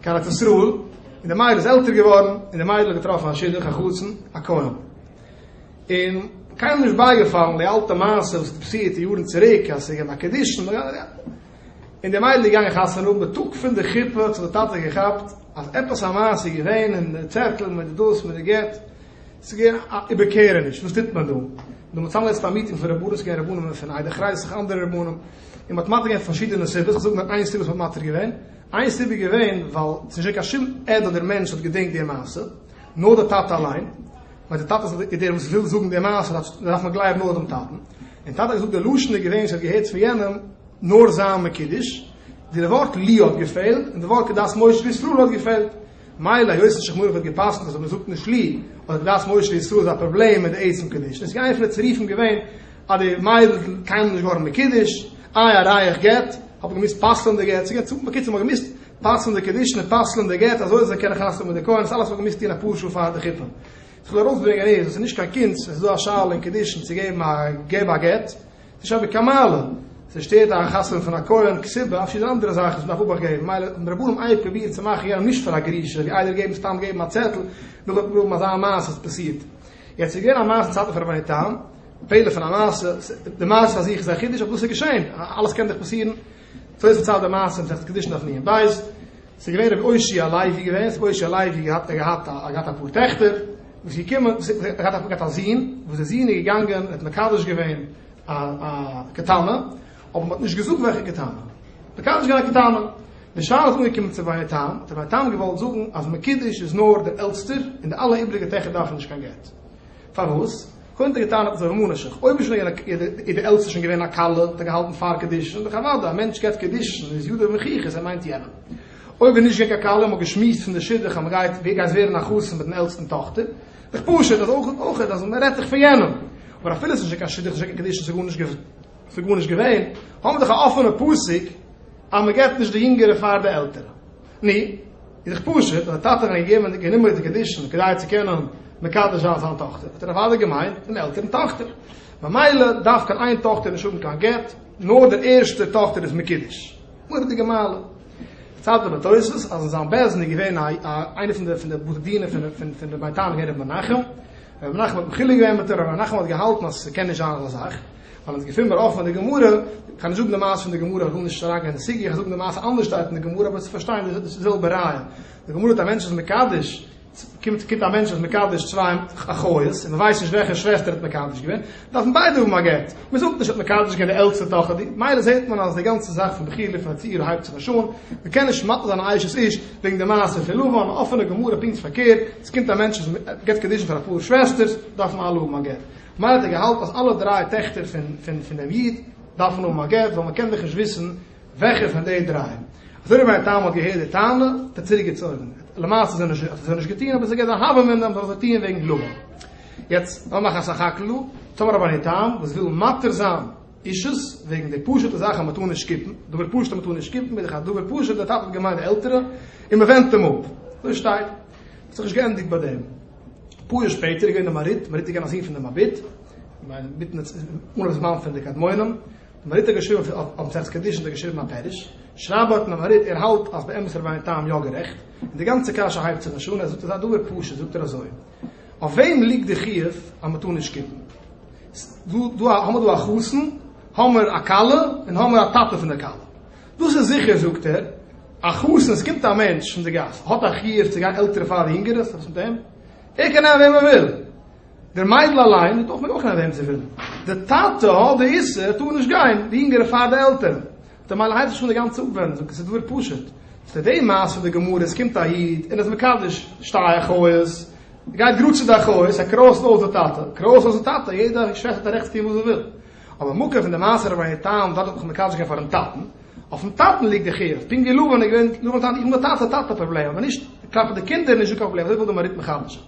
S1: קיין ארץ ישראל, און די מיידל איז עלטער געווארן, און די מיידל האט געטראפן א שידוך, א חתן, א כהן. און קיינעם נישט בייגעפאלן די אלטע מעשה וואס האט פאסירט יארן צוריק, אז עס איז געווען א קדישין, און די מיידל איז געגאנגען חתונה האבן, די טאג פון די חופה האט זיך די טאטע געכאפט אז עפעס א מעשה איז געווען, און די צעטל מיט די דאס מיט די גט, עס איז געווען א איבערקערעניש, וואס טוט מען דא? און מען האט צוזאמגעזעצט א מיטינג פון רבנים, עס איז געווען רבנים פון איידער קרייז, אנדערע רבנים, און מען האט מתיר געווען פארשידענע סיבות, כ'זאג נאר איין סיבה וואס מען האט מתיר געווען, איין סיבה איז געווען ווייל ס'איז נישט געווען קיין שום עד אדער מענטש וואס האט געדענקט די מעשה, נאר די טאטע אליין, ווייל די טאטע איז דער וואס וויל זאגן די מעשה, דארף מען גלייבן נאר דעם טאטן, און טאטע האט געזאגט די לשון איז געווען ס'האט געהערט פון יענעם נאר זיין מקדש, די ווארט לי האט געפעלט, און די ווארט כדת משה וישראל האט געפעלט. מילא היות די שכמורעך האט געפסקנט אז אויב מען זאגט נישט לי אדער קדש משה ישראל איז א פראבלעם מיט די עצם קידושין איז געווען פון די צירופים געווען אז די מיידל איז קיינמאל נישט געווארן מקודש איי א רייך גט האט מען געמוזט פסל'ן די גט ס'געווען צו בקיצור מ'האט געמוזט פסל'ן די קידושין און פסל'ן די גט אזוי זאל זיי קענען חתונה מיט די כהן דאס אלעס האט מען געמוזט טון אפאר שעה פאר די חופה וואס איך וויל ארויסברענגען איז אז ס'איז נישט קיין קונץ עס איז דא א שאלה אין קידושין צו געבן א געב א גט נישט אבי קאמאלע, עס שטערט א חתונה פון א כהן כסבה אפי' ס'דא אנדערע זאכן וואס מ'דארף אבאכט געבן, מילא האבן די רבנים אייביג פרובירט צו מאכן יענעם נישט פאר א גרושה, ווי איידער געבן סתם געבן א צעטל, וויל איך גראבן אזא מעשה האט פאסירט. יעצט ס'איז געווען א מעשה אין צייטן פון רבני תם, פעלער פון א מעשה, די מעשה פאר זיך איז א חידוש אבער דאס איז געשען, אלעס קען דאך פאסירן, סוי עס פארציילט די מעשה מסכת קידושין דף נ ע, בית. ס'איז געווען רבי אושי הלוי געווען, רבי אושי הלוי האט געהאט א געהאט אפאר טעכטער, וואס איז געקומען, ער האט געהאט א זון, וואס די זון איז געגאנגען און האט מקדש געווען א א קטנא, אבער מ'האט נישט געזאגט וועלכע קטנא, מקדש געווען א קטנא, די שאלה איז אנגעקומען צו בית היתום, האט דער בית היתום געוואלט זאגן אז מקידש איז נאר דער עלטסטער, און די אלע איבריגע טעכער דארפן נישט קיין גט. פארוואס? קודם האט ער געטענה'ט אז די רומענער שיך אויב איז שוין געווען א איז די עלטסטע שוין געווען א כלה האט ער געהאלטן פאר קידושין דאך אוודאי א מענטש געבט קידושין איז ידו במחיכות ער מיינט יענעם אויב איז נישט געווען קיין כלה האט מען געשמועסט פון די שידוך אז מען גייט ווער גייסט ווערן א חתן מיט דעם עלטסטן טאכטער דאך פשוט אז אויך אויך אז מען רעדט דאך פון יענעם אבער אפילו עס איז נישט געווען קיין שידוך נישט געווען קיין קידושין ס'איז גארנישט געווען האבן מיר דאך א אפענע פסק אז מען געבט נישט די יונגערע פאר די עלטערע. ני, איז דאך פשוט, ווען א טאטע האט אריין געגעבען די גענומער די קדישין כדי צו קענען מקדש זיין זיין טאכטער, האט ער אוודאי געמיינט דעם עלטערן טאכטער, ממילא דארף קיין איין טאכטער נישט האבען קיין גט, נאר דער ערשטער טאכטער איז מקדש. מורא'דיגע מעלה. צייגט דער בתוס' אז אין זיין בעזען איז געווען א א איינער פון די פון די בתי דינים פון פון פון רבי'ן טענה'ער רבי מנחם, רבי מנחם האט מחילה געווען מיט אים, רבי מנחם האט געהאלטען אז ס'קען נישט זיין אזא זאך, ווייל אונז געפינען מיר אויך פון די גמרא, כ'גיי נישט זאגן די מעשה פון די גמרא, כ'וויל נישט אריינגיין אין די סוגיא, כ'זאג די מעשה אנדערש שטייט אין די גמרא אבער צו פארשטיין די זעלבע רעיון, די גמרא האט א מענטש איז מקדש, קומט קומט א מענטש איז מקדש צוויי אחיות, און מען ווייסט נישט וועלכע שוועסטער ער האט מקדש געווען, דארפן ביידע האבן א גט, מען זאגט נישט ער האט מקדש געווען די עלטסטע טאכער די, מילא זעט מען אז די גאנצע זאך פון בחירה פון א צעיר הייבט זיך נישט אן, מען קען נישט מפיל זיין א אשת איש וועגן די מעשה פון לבן, א אפענע גמרא פונקט פארקערט, ס'קומט א מענטש איז געבט קדישין פאר אפאר שוועסטערס, דארפן אלע האבן א גט. מילא האט ער געהאלטן אז אלע דריי טעכטער פון דעם איד דארפן האבן א גט, ווייל מען קען דאך נישט וויסן וועלכע פון די דריי. אזוי ווי היתם האט געהערט די טענה האט ער צוריק געצויגן, למעשה האט ער עס נישט געטון אבער עס איז געווען א הוה אמינא אז מען זאל עס טון וועגן גלומא. יעצט לאמיר מאכן א סך הכל, טאמער האט מען היתם וואס וויל מתיר זיין אישות וועגן די פשוט'ע זאך אז מען טאר נישט שקיפן, דבר פשוט אז מען טאר נישט שקיפן איז דאך א דבר פשוט, דער טאטע האט געמיינט די עלטערע און מען ווענדט אים אפ. אזוי שטייט, האט זיך נישט געענדיגט ביי דעם. אפאר יאר שפעטער איז געווען די מרית, מרית איז געווען א זון פון די מביט, מיטן אנהויב זמן פון די קדמונים, די מרית האט געשריבען אויף אויף מסכת קידושין האט ער געשריבען א פירוש, שרייבט דארטן די מרית ער האלט אז באמת איז רבינו תם יא גערעכט, און די גאנצע קשיא הייבט זיך נישט אן, ער זאגט אזא דבר פשוט, זאגט ער אזוי, אויף וועם ליגט די חיוב אז מען טאר נישט קוקן? דא האמער דא א חתן, האמער א כלה, און האמער א טאטע פון די כלה, דאס איז זיכער, זאגט ער, א חתן, עס קומט א מענטש פון די גאס, האט א חיוב צו גיין עלטערע פאר יונגערע, ס'האט וואס מיט אים, ער קען נעמען וועם ער וויל, די מיידל אליין וועט אויך מעגן אויך נעמען וועם זי וויל, די טאטע האט די איסור, ער טאר נישט גיין די יונגערע פאר די עלטערן, די מיידל הייבט זיך שוין די גאנצע אפווענדן, זאגט ער, ס'איז דבר פשוט, צו די מעשה פון די גמרא, עס קומט א איד און איז מקדש שתי אחיות, גייט גראד צו די אחיות, ער קרויזט אויס די טאטע, קרויז אויס די טאטע, יעדע שוועסטער טאר רעכטס טון וואס זי וויל. אבער מקור פון די מעשה רביה ת און דארט האט מען זיך מקדש געווען פארן טאטן, אויפן טאטן ליגט די חיוב, פונקט ווי לבן איז געווען לבן טאטע, איך בין דער טאטע, טאטע פראבלעם, אבער נישט כלפי די קינדער איז נישט דא קיין פראבלעם, אזוי וויל די מהרי ט מחדש'ן.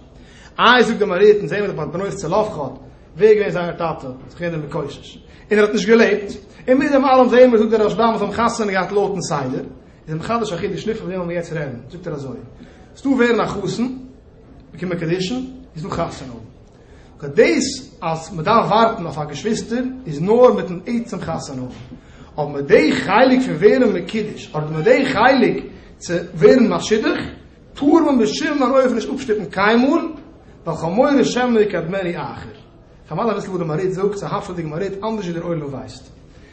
S1: איי זאגט די מהרי ט, אונז זעהן מיר דאך ביי בנו צלפחד, ווער איז געווען זיינער טאטע, זיך געווען דער מקושש, און ער האט נישט געלעבט, און מיט דעם אלעם זעהן מיר זאגט דער רשב ם אז זיי האבן חתונה געהאט לויטן סדר, איז ער מחדש א חידוש, נישט פון וועם וועלן מיר יעצט רעדן, זאגט ער אזוי, ס'דא ווערן א חתן, באקומען קדישין, איז דא חתונה האבן. כ'האב דאס אז מען דארף ווארטן אויף א געשוויסטער איז נאר מיטן עצם חתונה האבן, אבער מיט די חלק פון ווערן מקודש אדער מיט די חלק צו ווערן משודך טאר מען בשום אן אופן נישט אפשטופן קיינמאל, ועל חמורי שמא יקדמני אחר. כ'מיין אביסל וואס די מהריד זאגט, ס'האפעדיג מהריד אנדערש ווי דער עולם ווייסט.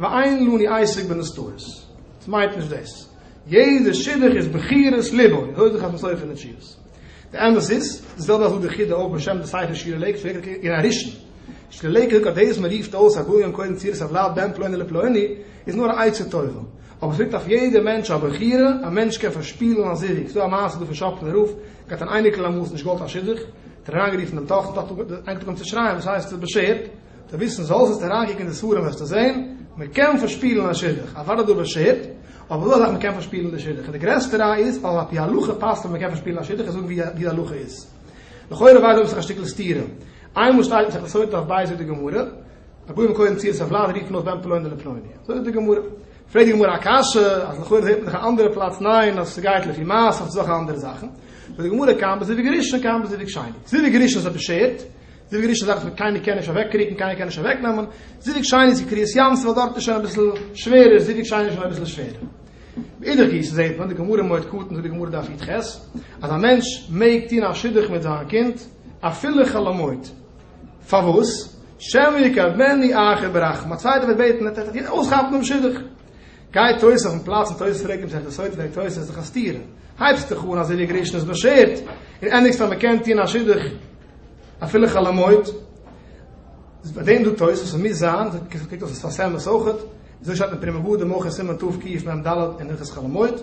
S1: ואין לני עיסוק בנסתרות. ס'מיינט נישט דאס. יעדע שידוך איז בחירת לבו. אזוי זאגט חתם סופר אין די תשובות. די אמת איז, די זעלבע אזוי זאגט דער חיד א אויך בשם די ספר שירה לעיקוואד פרעגט ער אין הראשון. שירה לעיקוואד זאגט אז דאס אז מען רופט אויס א גוי'און קודם צירס אויף לייב בן פלוני לפלוני איז נאר א עצה טובה. אבער עס ליגט אויף יעדע מענטש א בחירה. א מענטש קען פארשפילן א זיווג. ס'איז דא א מעשה דא פון שאפלען רב. ער האט אן אייניקל אמאלס נישט געוואלט א שידוך. האט ער אריינגערופן דעם טאכטער. טאכטער האט אנגעהויבן צו שרייען וואס הייסט עס איז באשערט. די וויסן זאלסט זאלסט אריינקוקן אין די ספרים וועסטו זען מען קען פארשפילן א שידוך אוודאי דא באשערט אבער דא אזאך מען קען פארשפילן די שידוך און די גרעסטע ראיה איז אז על פי הלכה פאסט אז מען קען פארשפילן א שידוך און זאגן ווי די הלכה איז לכאורה ווייזט דא אויף א שטיקל סתירה איינמאל שטייט אין מסכת סוטה דף ב' זאגט די גמרא א גוי מקודם צו עס א וולד רופן אויס בן פלוני לפלוני זאגט די גמרא פרעגט די גמרא א קשיא אז לכאורה זעט מען דאך א אנדערע פלאץ ניין אז ס'גייט לפי מעשה אויף זאך אנדערע זאכן זאגט די גמרא קאם בזיווג ראשון קאם בזיווג שני זיווג ראשון איז א באשערט די וויגערישע זאך וועט קיינער קען נישט אוועקריקן קיינער קען נישט אוועקנעמען, זיווג שיין איז ווי קרית ים ס'וועל דארט איז שוין אביסל שווערער זיווג שיין איז שוין אביסל שווערער. מאידך גיסא זעהט מען די גמרא מועד קטן זאגט די גמרא דף יט ח אז א מענטש מעג טוהן א שידוך מיט זיין קינד אפילו חלומות פארוואס שמא יקרבני אחר ברחם א צווייטער וועט בעטן ער טאר נישט אויסכאפן דעם שידוך גייט תוס' אויפן פלאץ און תוס' פרעגט אים זעהט עס אויס וועגט תוס' זיך א סתירה הייבסט דיך אן אז די וויגערישן איז מותר און ענדיגסט אז מ'קען טוהן א שידוך אפילו חלומות, איז ביי דעם דא טעות וואס עס מוז זיין, זאגט כ ק קוקט אויף די ספר סעמעס אויכעט, אזוי שרייבט מען פרי מגור די מח ע סימן תוו ק מ ד אין הלכות חלומות,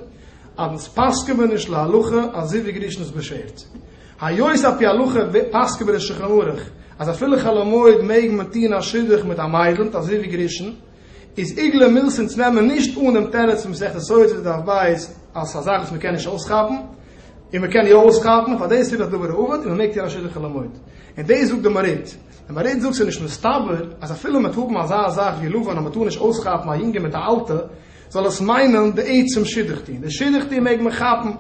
S1: אז אונז פסק'ען מיר נישט להלכה אזוי ווי גרשונ'ס באשערט. היות על פי הלכה פסק'ען מיר אין שולחן ערוך אז אפילו חלומות מעג מען טון א שידוך מיט א מיידל, נישט אזוי ווי גרשון, איז עיגלה מילסען צו נעמען נישט אן דעם תירוץ פון מסכת סוטה דף בית אז ס'איז א זאך וואס מ'קען נישט אויסכאפן און מ'קען יא אויסכאפן און פאר דאס וויל איך דבר האבד און מ'מעג טון א שדכן למועד און דאס זאגט די מרית די מרית זאגט ס'איז נישט מסתבר אז אפילו מ'וועט האבן אזא זאך ווי לבן אז מ'טאר נישט אויסכאפן א יונגע מיט א אלטע זאל עס מיינען די עצם שידוך טון די שידוך טון מעג מען כאפן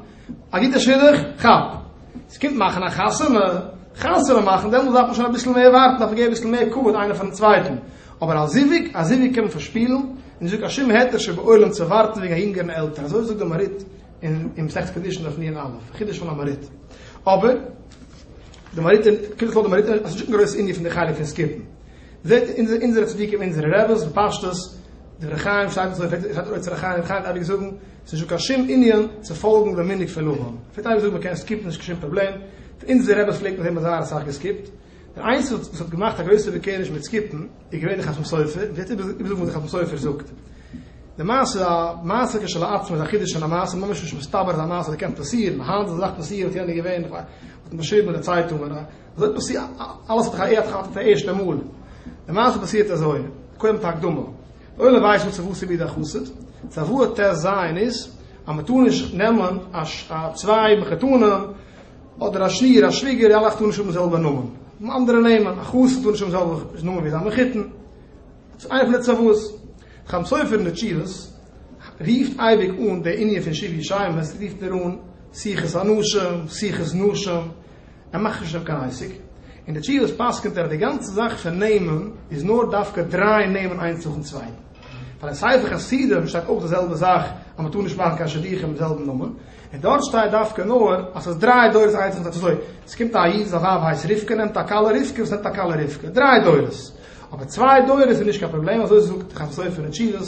S1: א גוטע שידוך כאפ ס'קומט מאכן א חתונה, חתונה מאכן, דעמאלס דארף מען שוין אביסל מער ווארטן, דארף מען געבן אביסל מער כבוד איינער פארן צווייטן, אבער א זיווג, א זיווג קען מען פארשפילן, און נישטא קיין שום היתר שבעולם צו ווארטן וועגן א יונגערן עלטער, אזוי זאגט דער מהריט אין אין מסכת קידושין דף נ א, חידוש פון המהריט. אבער דער מהריט אין קודם כל דער מהריט האט נישט קיין גרויס ענין פון די חלק פון סקיפן. זעט אונזער אונזערע צדיקים אונזערע רעבעס בפשטות, דברי חיים שטייט אזוי, פלעגט דער אוצר החיים רבי חיים אייביג זאגן, ס'איז נישט דא קיין שום ענין צו פאלגן די מנהג פון אהרן. איך וועל טייל זאגן מען קען סקיפן נישט קיין שום פראבלעם, פון אונזערע רעבעס פלעגט מען זען מ'האט זייער אסאך געסקיפט. דער איינציגסטער וואס האט געמאכט א גרויסע בעקעריש מיט סקיפן איז געווען דער חתם סופר, און וועט יעצט איבערזאגן וואס דער חתם סופר זאגט. די מעשה איז א מעשה כשלעצמו, איז א חידוש אין א מעשה, ממש נישט מסתבר אז א מעשה אזוי קען פאסירן, היינט זאל אזא זאך פאסירן וואלט יענער געווען, איך ווייס, וואלט מען געשריבן אין די צייטונגען, אזוי פאסירט, אלעס האט זיך א ערד כאפט אויף די ערשטע מאל. די מעשה פאסירט אזוי, קודם די הקדמה. אויב מען ווייסט נישט צו וואס ס'איז בידי א חסיד, צו וואו ער טעסט זיין איז, אז מען טאר נישט נעמען א צוויי מחותנים, אדער א שניר א שוויגער, די אלע טארן נישט האבן זעלבע נאמען, נאר אנדערע נעמען, א חסיד טאר נישט האבן זעלבע נאמען ווי זיין מחותן, צו איינע פון די צוואות. דער חתם סופר אין די תשובות רופט אייביג אן די ענין פון שבעה ישמות, רופט ער אן שיחת אנשים, שיחת נשים. ער מאכט נישט אויף קיין עסק, און די תשובות פסק'נט ער די גאנצע זאך פון נעמען איז נאר דווקא דרייען נעמען איינס נאכן צווייטן, ווייל אין ספר חסידים שטייט אויך די זעלבע זאך אז מען טאר נישט מאכן קיין שידוכים מיט זעלבן נאמען, און דארט שטייט דווקא נאר אז ס'איז דריי דורות איינס נאכן צווייטן, אזוי ס'קומט א איד זיין ווייב הייסט רבקה נעמט א כלה רבקה וואס נעמט א כלה רבקה, דריי דורות, אבער צוויי דורות איז נישט קיין פראבלעם אזוי זאגט די חתם סופר אין תשובות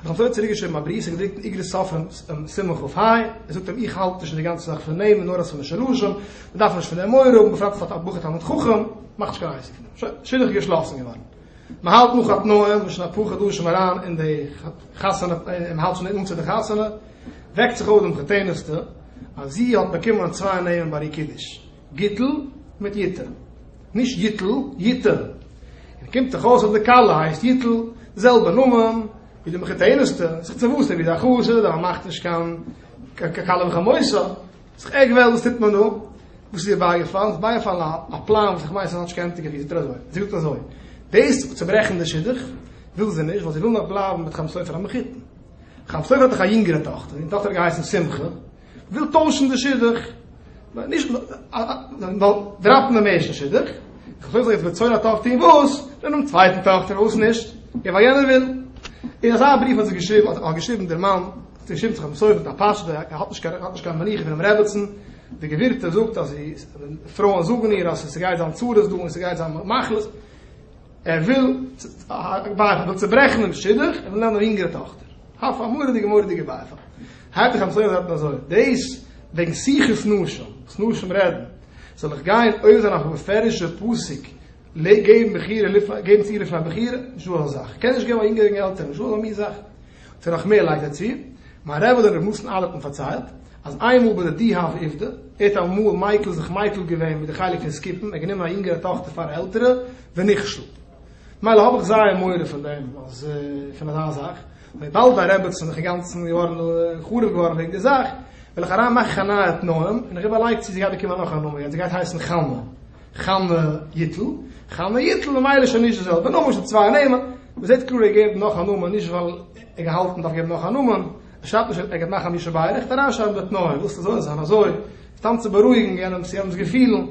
S1: איך האב זיי צוריק געשריבן א בריוו ס'איז געדרוקט אין איגרות ספרים סימן כ ח, ער זאגט אים איך האלט נישט אין די גאנצע זאך פון נעמען נאר אז פון די שלשים, מ'דארף נישט פון דעם מורא האבן בפרט אז ס'האט א בחור תלמיד חכם, מאך נישט קיין אייסיק פון דעם, שוין, שידוך איז געשלאסן געווארן, מ'האלט נאך א תנאים, מ'איז שוין אפאר חדשים אריין אין די חתונה, און מ'האלט שוין ניט אן צו די חתונה, וועקט זיך אויף דעם חתן'סטע אז זי האט באקומען צוויי נעמען ביי איר קידוש. גיטל מיט יטל, נישט גיטל, יטל, און קומט דאך אויס אז די כלה הייסט יטל, זעלבע נאמען ווי די מחותענות'טע, זיך צו וואוסן ווי די אחוש איז, אבער מ'מאכט נישט קיין קלה וחמוסה, זיך ערג וועלן וואס טוט מען דא? וואס איז איר בייגעפאלן? ס'איז בייגעפאלן א א פלאן וואס איך מיין ס'איז כאטש קענטיגער ווי זאגט ער אזוי, זי זאגט אזוי, דאס צוברעכן די שידוך וויל זי נישט ווייל זי וויל נאך בלייבן מיט חם סופר המחותן, חם סופר האט דאך א יונגערע טאכטער, די טאכטער האט געהייסן שמחה, וויל טוישן די שידוך, נישט דראפן דעם ערשטן שידוך, כ'זאל יעצט בצור א טאכטער און וואס? דעם צווייטן טאכטער און וואס נישט? און ווייל יענער וויל. און אזא בריוו האט זיך געשריבן, האט געשריבן דער מאן, האט געשריבן זיך מסובב א פשט, ער האט נישט קיין, ער האט נישט קיין מנוחה פונעם רעבעצן, די גבירטע זאגט אז זי, פרויען זאגן איר אז ס'גייט זיין צרות דא און ס'גייט זיין מחלות, ער וויל, ווייל ער וויל צוברעכן דעם שידוך, ער וויל נעמען א יונגערע טאכטער. האף א מורא'דיגע מורא'דיגע בייפאל. האלט איך אמת'דיג זאגט מען אזוי דאס וועגן שיחות נשים וואס נשים רעדן זאל איך גיין עובר זיין אויף א מפורש'ע פסוק געבן בחירה לפני געבן צו לפני בחירה נישט דא אזא זאך קען נישט געבן א יונגערע קעגן עלטערע נישט דא אזא מין זאך ס'איז נאך מער לייגט ער צו מיין רבי דער רבי נתן אלערט האט מיר פארציילט אז איינמאל ביי די די הוו עובדא ער האט אמאל מיקל זיך מיקל געווען מיט די חלק פון סקיפן ער האט גענומען א יונגערע טאכטער פאר א עלטערע ונכשל מילא האב איך זייער מורא פון דעם אז פון אזא זאך וויבאלד א רעבעצן איך אינגאנצן געווארן חרוב געווארן וועגן די זאך, וויל איך אריין מאכן א נייע תנאים, און איך איבערלייג צי זי גייט באקומען נאך א נאמען יעצט, זי גייט הייסן חנה, חנה יטל, חנה יטל ממילא שוין נישט די זעלבע נאמען שוין צוויי נעמען, מען זעט קלאר ער געבט נאך א נאמען נישט ווייל ער געהאלטן מען דארף געבן נאך א נאמען, ער שרייבט נישט ער גייט מאכן א מי שבעי ער רעכט אריינשרייבן די תנאים ווילסט עס זאל זיין אזוי סתם צו בארואיגן יענעמס יענעמס געפילן,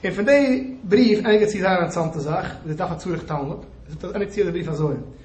S1: און פון די בריוו ענדיגט זי זייער אינטערעסאנטע זאך, זי דארף א צריך תלמוד, זאגט ענדיגט זי די בריוו אזוי,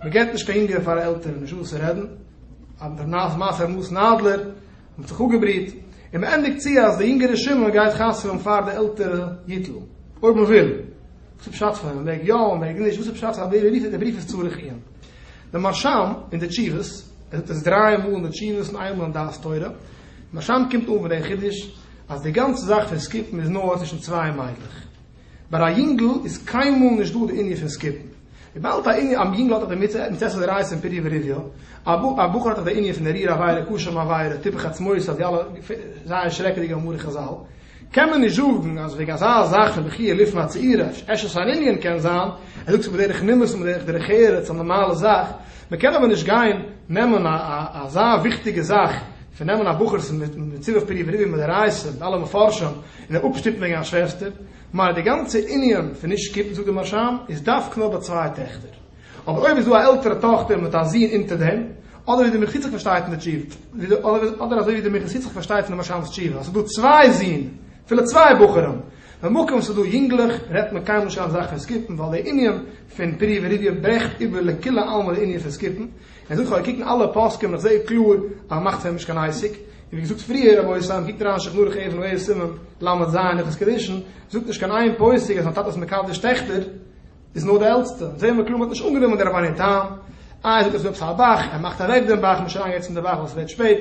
S1: מען געט נישט קיין יונגער פאר א עלטערן נישט וואס צו רעדן, א נאז מאכער נאז נאדלער, מען האט זיך אפגעבריט, און מען ענדיגט צו אז די יונגערע שמעון גייט חתמ'ן פאר די עלטערע ייטל, אויב מען וויל, וואס איז פשט פון מען מעג יא מען מעג נישט, וואס איז פשט אז די בריוו איז צריך עיון? די מהרשם אין די תשובות, ער זאגט עס דריי מאל אין די תשובות און איין מאל אין דעת תורה, די מהרשם קומט אן פון דעם חידוש אז די גאנצע זאך פון סקיפן איז נאר צווישן צוויי מיידלעך. ביי א יונגל איז קיינמאל נישט דא די ענין פון סקיפן. וויבאלד א יונגל האט דאך די מצוה מצות עריות און פרי ורבייה, א בחור האט דאך די ענין פון עריר עבירה, קושן עבירה, טיפח עצמותו, די אלע זייער שרעקעדיגע מאמרי חזל, קען מען נישט זאגן אז וועגן אזא זאך פון בחי' לפני הצעירה, עשו סן ענין קען זיין, ער זאגט עס בדרך נימוס און בדרך דרך ארץ, א נארמאלע זאך, מען קען אבער נישט גיין נעמען אזא וויכטיגע זאך פון נעמען א בחור'ס מצוה פרי ורבייה מדאורייתא מיט אלע מפרשים, און אים אפשטופן וועגן א שוועסטער, מילא די גאנצע ענין פון נישט שקיפן זאגט די משמ איז דווקא נאר ביי צוויי טעכטער, אבער אויב איז דא א עלטערע טאכטער מיט א זון אונטער דעם, אדער ווי די מחוצף פארשטייט אין די תשובה, אדער אזוי ווי די מחוצף פארשטייט פון די משמ'ס תשובה אז ס'איז דא צוויי זון, אפילו צוויי בחורים, במקום וואס ס'איז דא יונגלעך, רעדט מען קיינמאל נישט אויף די זאך פון סקיפן ווייל די ענין פון פרי ורבייה ברעכט איבער לכולי עלמא די ענין פון סקיפן, ער זאגט כ'האב געקוקט אין אלע פוסקים און איך זעה קלאר אז מען מאכט פון אים נישט קיין עסק, און ווי געזאגט פריער רבותי, קוקט אריין אין שולחן ערוך עוו נ עו סימן ל' ז' הלכות קידושין, זאגט נישט קיין איין פוסק אז ווען א טאטע איז מקדש טעכטער איז נאר די עלטסטע, זעהן מיר קלאר מען האט נישט אנגענומען די רבני תם, איי זאגט ער ס'איז דא עפעס א באך, ער מאכט אוועק דעם באך, מ'איז שוין אריינגעגאנגען צום די באך ווייל ס'ווערט שפעט,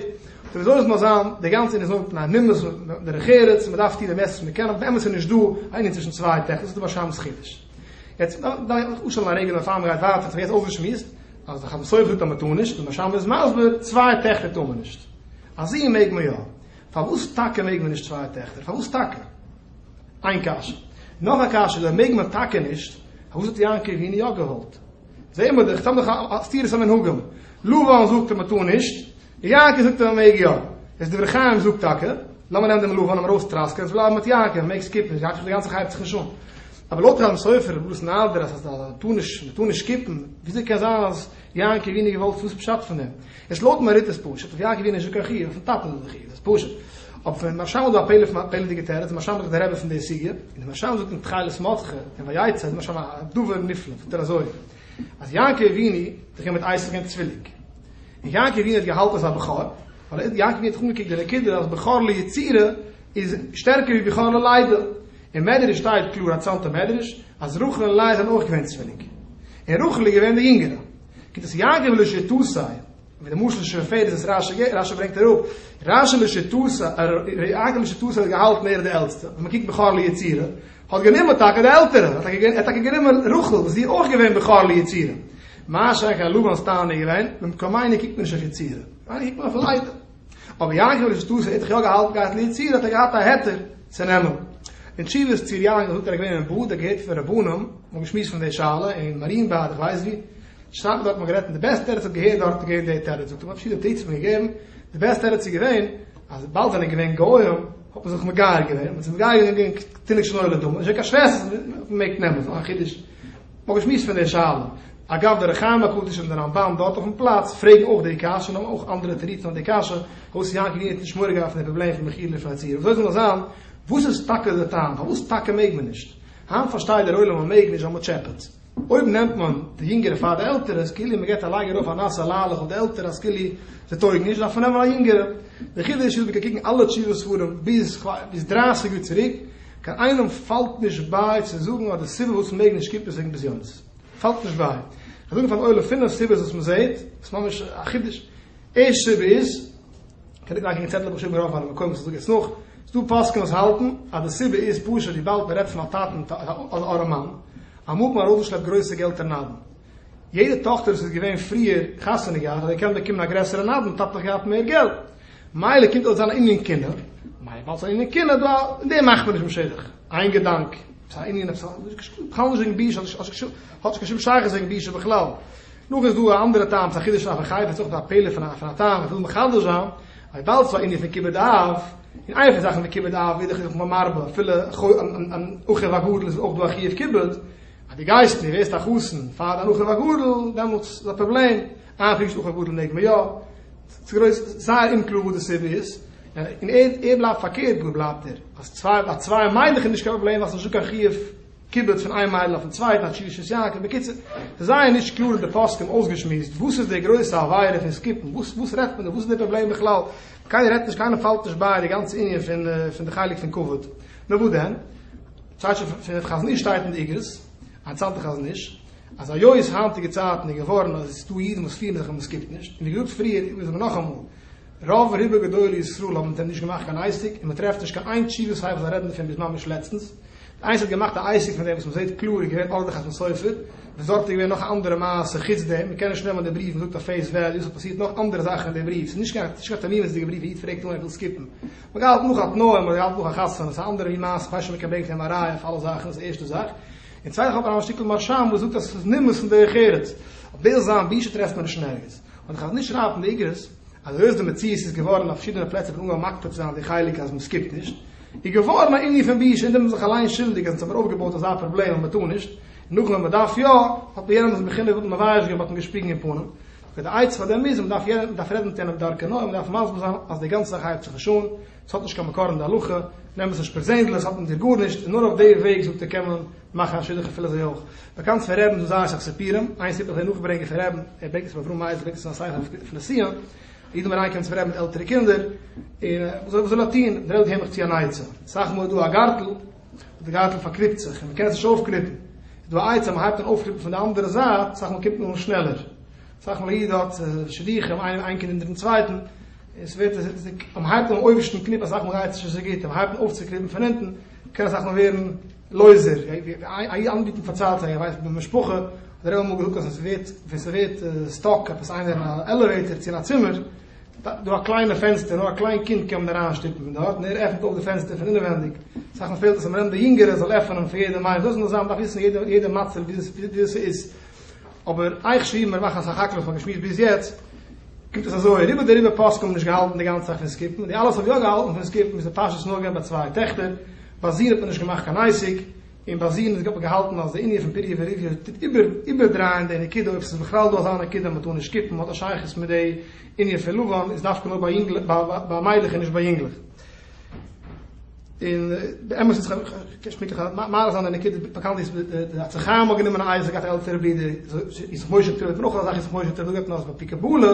S1: סאו וויאזוי עס מוז זיין, די גאנצע ענין איז נאר מפני נימוס און דרך ארץ, מען דארף טון די מערסטע וואס מען קען, אבער באמת איז נישט דא א ענין צווישן צוויי טעכטער, ס'איז דא באשיימעס חידוש. יעצט דארף איך אפשטעלן א רגע בעפאר מען גייט ווייטער, וואס מ'האט יעצט אויסגעשמועסט, אז די חתן סופר טאר מען טאר נישט, די משמש איז מסביר, צוויי טעכטער טאר מען נישט. א זון מעג מען יא. פארוואס טאקע מעג מען נישט צוויי טעכטער? פארוואס טאקע? איין קשיא. נאך א קשיא, אויב מעג מען טאקע נישט, פארוואס האט יעקב אבינו יא געוואלט? זעהן מיר דאך, סתם דאך א סתירת המנהגים. לבן זאגט אז מען טאר נישט. יעקב זאגט ער מעג יא. איז דברי חיים זאגט טאקע, לאמיר נעמען דעם לבן ארויסטראסקען, עס בלייבן מיט יעקב, מעג סקיפן, נישט יעקב די גאנצע חייב זיך נישט אן. אבער לויט רמ סופר און בלאס נארדער אז אז מען טאר נישט, מען טאר נישט סקיפן, וויאזוי קען זיין אז יעקב אי נישט געוואלט, וואס איז פשט פון דעם? עס לויט מהרי ט איז פשוט, אויף יעקב אי נישט דא קיין חיוב, אויפן טאטן איז דא חיוב, דאס פשוט. אבער פון משל איז דא א פלא'דיגע תירוץ, משל מאכט די רבי פון די סוגיא, און די משל זאגט אין תחילת מוצ ח, אין ויצא, איז משל א דבר נפלא, זאגט ער אזוי. אז יעקב אבינו האט געהאט מיט אייזיק א צוויליג, און יעקב אבינו האט געהאלטן אז א בכור, ווייל יעקב אבינו האט זיך אנגעקוקט די נקודה אז בכור ליצירה איז שטערקער ווי בכור ללידה, אין מדרש שטייט קלאר א צאנזער מדרש אז רחל און לאה זענען אויך געווען צוויליג, און רחל איז געווען די יונגערע, גיט עס יעקב לשיטתו, ווי די משל שוין פערט איז עס רש י, רש י ברענגט אראפ, רש י לשיטתו, יעקב לשיטתו האט געהאלטן ער איז די עלטסטע, ווען מען קוקט בכור ליצירה, האט גענומען טאקע די עלטערע, ער האט טאקע גענומען רחל וואס זי איז אויך געווען בכור ליצירה, מה שאין כן לבנ'ס טענה איז געווען, במקומינו קוקט מען נישט אויף יצירה, ממילא קוקט מען אויף ליידער. אבער יעקב אבינו שטאסי האט זיך יא געהאלטן געהאט ליצירה האט ער געהאט א היתר צו נעמען. אין תשובות צו ר' יעקב זאגט ער איז געווען אין באדע געהערט פון רבנים, מען האט געשמועסט פון די שאלה אין מאריענבאד איך ווייס ווי, שרייבט מען דארט מען האט גערעדט און די בעסטע תירוץ האט געהערט די עלטערע זאגט ער מען האט פארשידענע תירוצים געגעבן, די בעסטע תירוץ איז געווען, אז וויבאלד זיי זענען געווען גוים האט מען זיך מגייר געווען, מען האט זיך מגייר געווען וועגן תינוק שנולד לאדמה, איז נישט קיין שוועסטער, מען מעג נעמען, ס'איז נאר א חידוש, מען האט געשמועסט פון די שאלה, אגב דער אור החיים הקדוש און דער רמב ם דארט אויפן פלאץ פרעגן אויך די קשיא און האבן אויך אנדערע תירוצים אויף די קשיא, הויז יעקב וויען האט נישט מורא געהאט פון די פראבלעם פון מחילה לפני צער, אזוי זאל נאר זיין, וואס איז טאקע די טעם, פארוואס טאקע מעג מען נישט? היינט פארשטייט דער עולם אז מען מעג נישט ווייל מען טשעפעט. אויב נעמט מען די יונגערע פאר די עלטערע איז כאילו מען געט א לייג ארויף א נאסע ליילעך אויף די עלטערע אז כאילו זיי טויגן נישט דארף מען נעמען א יונגערע. די חידוש איז מ'קען קוקן אלע תשובה ספרים ביז ביז דרייסיג יאר צוריק קיין איינעם פאלט נישט ביי צו זאגן אז די סיבה פארוואס מ'מעג נישט כיפות וועגן בזיונות. פאלט נישט ביי. כ'קען זאגן פארן עולם פינף סיבות וואס מ'זעהט, ס'איז ממש א חידוש. ערשט סיבה איז, כ'האב נישט געלייקענט קיין צעטל אבער געשריבן ארויף פארן מקום וואס איך זאג יעצט נאך, ס'דא פוסקים וואס האלטן אז די סיבה איז פשוט וויבאלד מ'רעדט פון א טאטן אדער א מאן, א מאן פאר ארויסגעשלעפט גרויסע געלט אין נדן. יעדע טאכטער וואס איז געווען פריער חתונה געהאט האט געקענט באקומען א גרעסערע נדן און טאטעלעך געהאט מער געלט. מילא קומט אויס זיין ענין קינה, מילא באלד זיין ענין קינה דא אין דעם מאכט מען נישט משוגח. איין געדאנק, ס'איז א ענין, עפעס א, בכלל נישט וועגן ביש, האט נישט קיין שום שייכות וועגן ביש בכלל. נאך איז דא א אנדערע טעם צו א חידוש אויף א חי ווער ס'אויך א פעלער פון א פון א טעם וואס וויל מחדש זיין וויבאלד ס'איז א ענין פון כיבוד אב און איינע פון זאכן פון כיבוד אב איז דאך זיך מרבה אפילו אן אחיו הגדול איז אויך דא א חיוב כיבוד אז די גייסט און די ווערסט א חתן פאר דיין אחיו הגדול דעמאלטס איז א פראבלעם איין חידוש אחיו הגדול מעג מען יא ס'איז גרויס זייער אומקלאר וואס די סיבה איז און ער בלייבט פארקערט גאר בלייבט ער אז צוויי ביי צוויי מיינעך איז נישט קיין פראבלעם ווייל ס'איז נישט דא קיין חיוב כיבוד פון איין מיידל אויפן צווייטן א טשילישעס יאנקל בקיצור ס'איז זייער נישט קלאר אין די פוסקים אויסגעשמועסט וואס איז די גרויסע עבירה פון סקיפן וואס וואס רעדט מען דא וואס איז די פראבלעם בכלל קיינער רעדט נישט קיינער פאלט נישט ביי די גאנצע ענין פון פון די חלק פון כבוד נאר וואס דען צייט שוין פון חזון איש שטייט אין די איגרות א צייטן חזון איש אז היות היינטיגע צייטן איז געווארן אז עס איז דא אידן וואס פירן זיך ווי מען סקיפט נישט און ווי געזאגט פריער איז מען נאכאמאל רוב רובא גדולי ישראל האבן מיט אים נישט געמאכט קיין אייסיק, און מען טרעפט נישט קיין איין תשובה סיי וואס א רעדן דערפון ביז ממש לעצטנס. די איינציגסטע וואס האט געמאכט א אייסיק פון דעם וואס מען זעהט קלאר איז געווען אדער די חתם סופר, וואס דארט איז געווען נאך א אנדערע מעשה חוץ דעם, מען קען נישט נעמען די בריוו ווי מ'זאגט אויף פעיס וועליו, ס'האט פאסירט נאך אנדערע זאכן אין די בריוו, ס'איז נישט קיין תמימות'דיגע בריוו ווי איד פרעגט אן ער וויל סקיפן. מען גאלט נאך א תנאים, מען גאלט נאך א חתונה, ס'איז אנדערע ווי מעשה, כ'ווייס שוין מען קען ברענגען פון אים א ראיה אויף אלע זאכן, דאס איז די ערשטע זאך. און צווייטנס האט מען א שטיקל מרשם וואס זאגט אז ס'איז נימוס אין דרך ארץ, אבער דאס זיין בושה טרעפט מען נישט אין ערגעץ. און חז ל שרייבט אין איגרות אז היות די מציאות איז געווארן אין פארשידענע פלעצער פון אנגעהויבן מקפיד צו זיין די חלק אז מ'סקיפט נישט איז געווארן א ענין פון בושה און דערמיט זיך אליין שולדיג אז אונז האבן אויפגעבויט אזא פראבלעם אז מ'טאר נישט נאכן ווען מ'דארף יא האט מען יענעם דאס בחינה וואלט מען מבייש געווען מ'האט אים געשפיגן אין פנים אבער די עצה פאר דעם איז אז מ'דארף מ'דארף רעדן מיט יענעם בדרכי נועם מ'דארף מסביר זיין אז די גאנצע זאך הייבט זיך נישט אן ס'האט נישט קיין מקור אין די הלכה נעם עס נישט פערזענדליך ס'האט מיט דיר גארנישט און נאר אויף די וועג זאגט ער קען מען מאכן א שידוך אפילו זיי אויך באקאנט פון רעבן דא זייער אסאך סיפורים איין סיפור וועל איך נאכברענגען פון רעבן ער ברענגט עס פון אברהם מייזל ברענגט עס און א ספר אויף אויף נסיון א איד האט אריינגעקומען צום רעבן מיט עלטערע קינדער און וואס זאל וואס זאל ער טוהן דער רעבע געבט מיך צו אן עצה אסאך מאל איז דא א גארטל און די גארטל פארקריפט זיך און מ'קען עס נישט אויפקריפן איז דא א עצה מ'הייבט אן אויפקריפן פון די אנדערע זייט אסאך מאל קומט מען אן שנעלער אסאך מאל א איד האט שידוכים איינעם איין קינד אונטערן צווייטן און ס'ווערט עס איז ניק אז מ'הייבט אן אויבערשטן קניפ אסאך מאל גייט עס נישט אזוי גוט און מ'הייבט אן אויפצוקריפן פון אונטן קען אסאך מאל ווערן לויזער, איינער האט מיר פארציילט אז ער ווייסט אז די משפחה האט דער רבי אמאל געזאגט אז ווען ס'ווערט סטאק עפעס איינער אין א עלעוועיטער צו אין א צימער, דא א קליינע פענסטער נאר א קליין קינד קען מען אריין שטופן פון דארט און ער עפענט אויף די פענסטער פון אינעווענדיג, סך הכל פעלט עס אז מ'נעמט די יונגערע זאל עפענען פאר יעדעם איינעם, דאס מוז זיין מ'דארף וויסן יעדע מצב ווי ס'איז, אבער אייך שריבן און מאכן אסאך האקלעך פאר געשמועסט ביז יעצט, קומט אויס אזוי, רובא דרובא פוסקים האבן נישט געהאלטן די גאנצע זאך פון סקיפן, די אלעס האבן יא געהאלטן פון סקיפן, איז די פשט נאר געווען ביי צוויי טעכטער, ביי זיען האט מען נישט געמאכט קיין אייסיק, און ביי זיען האט מען געהאלטן אז די ענין פון פיריע וריביע טוט איבערדרייען די נקודה, אויב ס'איז בכלל דא אזא נקודה אז מ'טאר נישט שקיפן, האט א שייכות מיט די ענין פון לבן איז דווקא נאר ביי מיידלעך און נישט ביי יונגלעך. און די אמת איז, כ'קען שוין פונקטליך מאריך זיין די נקודה, באקאנט איז די עצי חיים האט גענומען אייזיק אויף די עלטערע ברודער, איציק משה טויב האט מען אויך אזא זאך איציק משה טויב, דא געבט מען אויס ביי פיקעבאלע,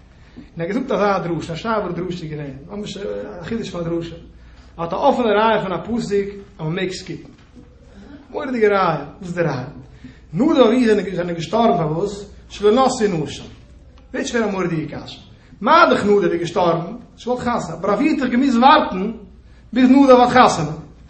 S1: און ער האט געזאגט אזא דרשה, א שארפער דרשה איז געווען, ממש א חידוש פון א דרשה. ער האט א אפענע רייע פון א פסוק אז מען מעג סקיפן. מורא'דיגע רייע, וואס איז די רייע? נאדא און איהר זענען געשטארבן פארוואס? שלא נשא נשא. ווערט שוין א מורא'דיגע קשיא. מה דכ נאדא איז געשטארבן? זי וואלט חתונה, אבער אויף איהר האט ער געמוזט ווארטן ביז נאדא האט חתונה.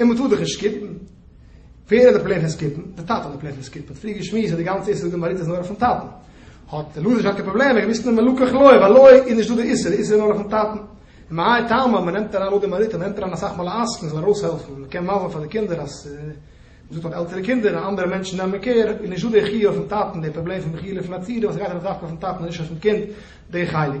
S1: און מען טאר דאך נישט סקיפן. ווער האט די פלען פון סקיפן? די טאטע האט די פלען פון סקיפן. פריער געשמועסט אז די גאנצע איסור דמריתא איז נאר אויפן טאטן. האט דער לוזער שטארקע פראבלעמען געוויסט נאר מלקח לוי, ביי לוי איז נישט דא די איסור, די איסור איז נאר אויפן טאטן. ומאי טעמא, מען נעמט אריין נאר דמריתא, מען נעמט אריין אסאך מאל א עסקן זאל ארויסהעלפן, מען קען מאוון פאר די קינדער אז מען זאגט אז עלטערע קינדער און אנדערע מענטשן נעמען קער, איז נישט דא די חיוב אויפן טאטן, די פראבלעם פון מחילה פון א צירה וואס גייט ארויף דווקא אויפן טאטן און נישט אויפן קינד, די חלק.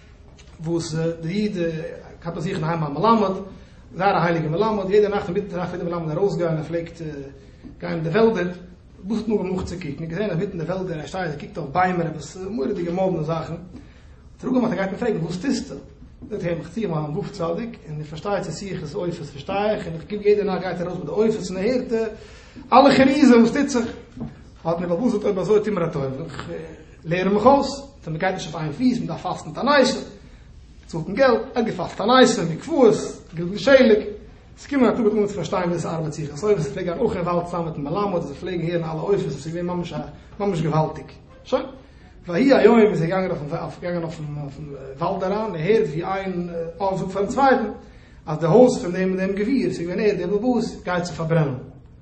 S1: וואס די איד כאפט ביי זיך אין היים א מלמד, זייער א הייליגע מלמד, יעדע נאכט אינמיטן נאכט פלעגט דער מלמד ארויסגיין, ער פלעגט גיין אין די וועלדער, וואס האט מען געמאכט צו קוקן, געזען אינמיטן די וועלדער ער שטייט ער קוקט אויף ביימער עפעס מורא'דיגע מאדנע זאכן, האט ער אפגעמאכט ער גייט אים פרעגן וואס טוסטו? זאגט ער אים איך צי מיין וואף צדיק, און איך פארשטיי צו צי איך עס עופות פארשטיי איך, און איך קוק יעדע נאכט גייט ער ארויס מיט די עופות און ער הערט אלע חרוזים וואס טוט זיך, האט מיר באבוב'ס זאגט אויב אזוי טו מיר א טובה, איך לערן מיך אויס. ווען מען גייט נישט אויף איין פיס, מען דארף פאסטן מיט א ניישער, מען צאלט אין געלט, ער האט געפאסט א ניישער, מקוואות, געגעבן שלג, עס קומען א טאג ווען דו מוזט פארשטיין ווער עס ארבעט זיך אויס, אויב עס איז פלעג גיין אויך אין וואלד צוזאמען מיטן מלמד, און זיי פלעגן הערן אלע עופות, עס איז געווען ממש ממש געוואלדיג. שוין, ויהי היום איז ער געגאנגען אויפן געגאנגען אויפן אויפן וואלד אריין, ער הערט ווי איין אב זאגט פארן צווייטן אז די הויז פון דעם און דעם גביר, עס איז געווען ער דער באבא, גייט זיך פארברענען.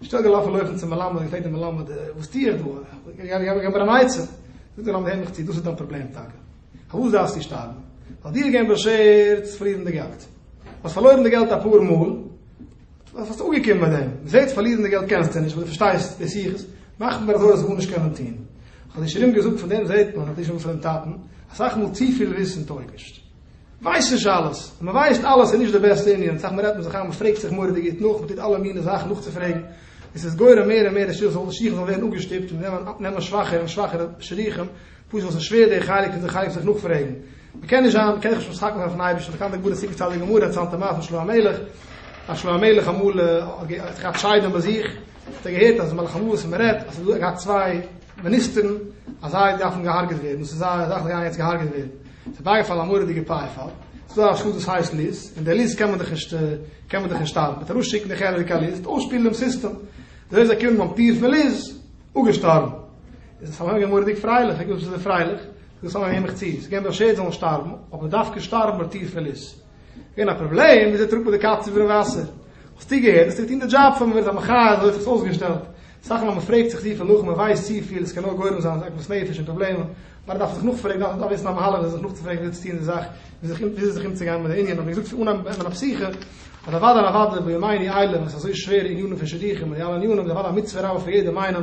S1: נישטא געלאפן לויפן צום מלמד און געפרעגט דעם מלמד וואס טו איך דא, געב מיר אן עצה. זאגט דער מלמד הער מיך צו, דאס איז דיין פראבלעם טאקע. פארוואס דארפסטו שטארבן? ווייל דיר איז געווען באשערט צו פארלירן די געלט. האסט פארלוירן די געלט אפאר מאל, וואס האסט אנגעקומען מיט דעם? מ'זעט פארלירן די געלט קענסטו נישט, ווייל דו פארשטייסט דאס יחוס, מאך מיר אזוי אז גארנישט קענען טון. האט די שרים געזאגט פון דעם זעט מען, האט די שרים פונעם טאטן, אסאך מאל צופיל וויסן טויג נישט. ווייסט נישט אלעס, און מען ווייסט אלעס איז נישט די בעסטע אין יענץ זאך, מען רעדט מיט זיך איין, מען פרעגט זיך מורא'דיג גוט נאך, מען טוט אלע מינע זאכן נאכצופרעגן, און ס'איז גורם מער און מער די שיך זאל שיך זאל ווערן אפגעשטופט און מיר נעמען נעמען שוואכערע און שוואכערע שידוכים, פשוט ווייל ס'איז שווער די חלק פון זיך חייב זיך נאכפרעגן, מען קען נישט זיין, מען קען זיך נישט משחק מאכן אויפן אייבערשטן, מען קאן די גמרא צופירן צו די גמרא, צו אלטע מעשה פון שלמה המלך, אז שלמה המלך אמאל האט געהאט שיידען ביי זיך, האט ער געהערט אז מלאך המות, מען רעדט אז ס'איז דא, ער האט געהאט צוויי. מיניסטערן אז זיי דארפן געהארגעט ווערן, דאס איז זייער זאך, זיי גייען יעצט געהארגעט ווערן. עס איז בייגעפאלן א מורא'דיגע פייפאל, עס איז דא א שטאט וואס הייסט ליז, און די ליז קען מען דאך נישט קען מען דאך נישט שטארבן, מען וועט ארויסשיקן די חלק א ליז, אויסשפילן דעם סיסטעם, אזוי איז געקומען ביים טיר פון ליז, אפגעשטארבן. איז עס ארויפגעגאנגען מורא'דיג פרייליך, איך געזאגט וואס איז דער פרייליך, זאגט עס אנגעהויבן מיך צו, עס איז געווען באשערט זאלן שטארבן, אבער דווקא שטארבן ביי טיר פון ליז. געווען א פראבלעם וויאזוי טראגט מען די קאץ איבערן וואסער? האסטו געהערט דאס טוט אהן די דזשאב פאר מען ווערט א מחיה אזוי האט זיך עס אויסגעשטעלט אסאך מאל מען פרעגט זיך צופיל נאך מען ווייסט צופיל עס קען נאר גורם זיין עגמת נפש און פראבלעמען נאר דארף מען זיך נאכפרעגן דארף מען וויסן א מהלך וויאזוי זיך נאכצופרעגן וויאזוי צו טון די זאך וויאזוי זיך אומצוגיין מיט די ענין האט מען געזאגט פון אנהייב ביי מיין פסיכע אז אוודאי אוודאי בימיני אלה וואס איז אזוי שווערע ענינים פון שידוכים און די אלע ענינים איז אוודאי א מצוה רבה פאר יעדעם איינעם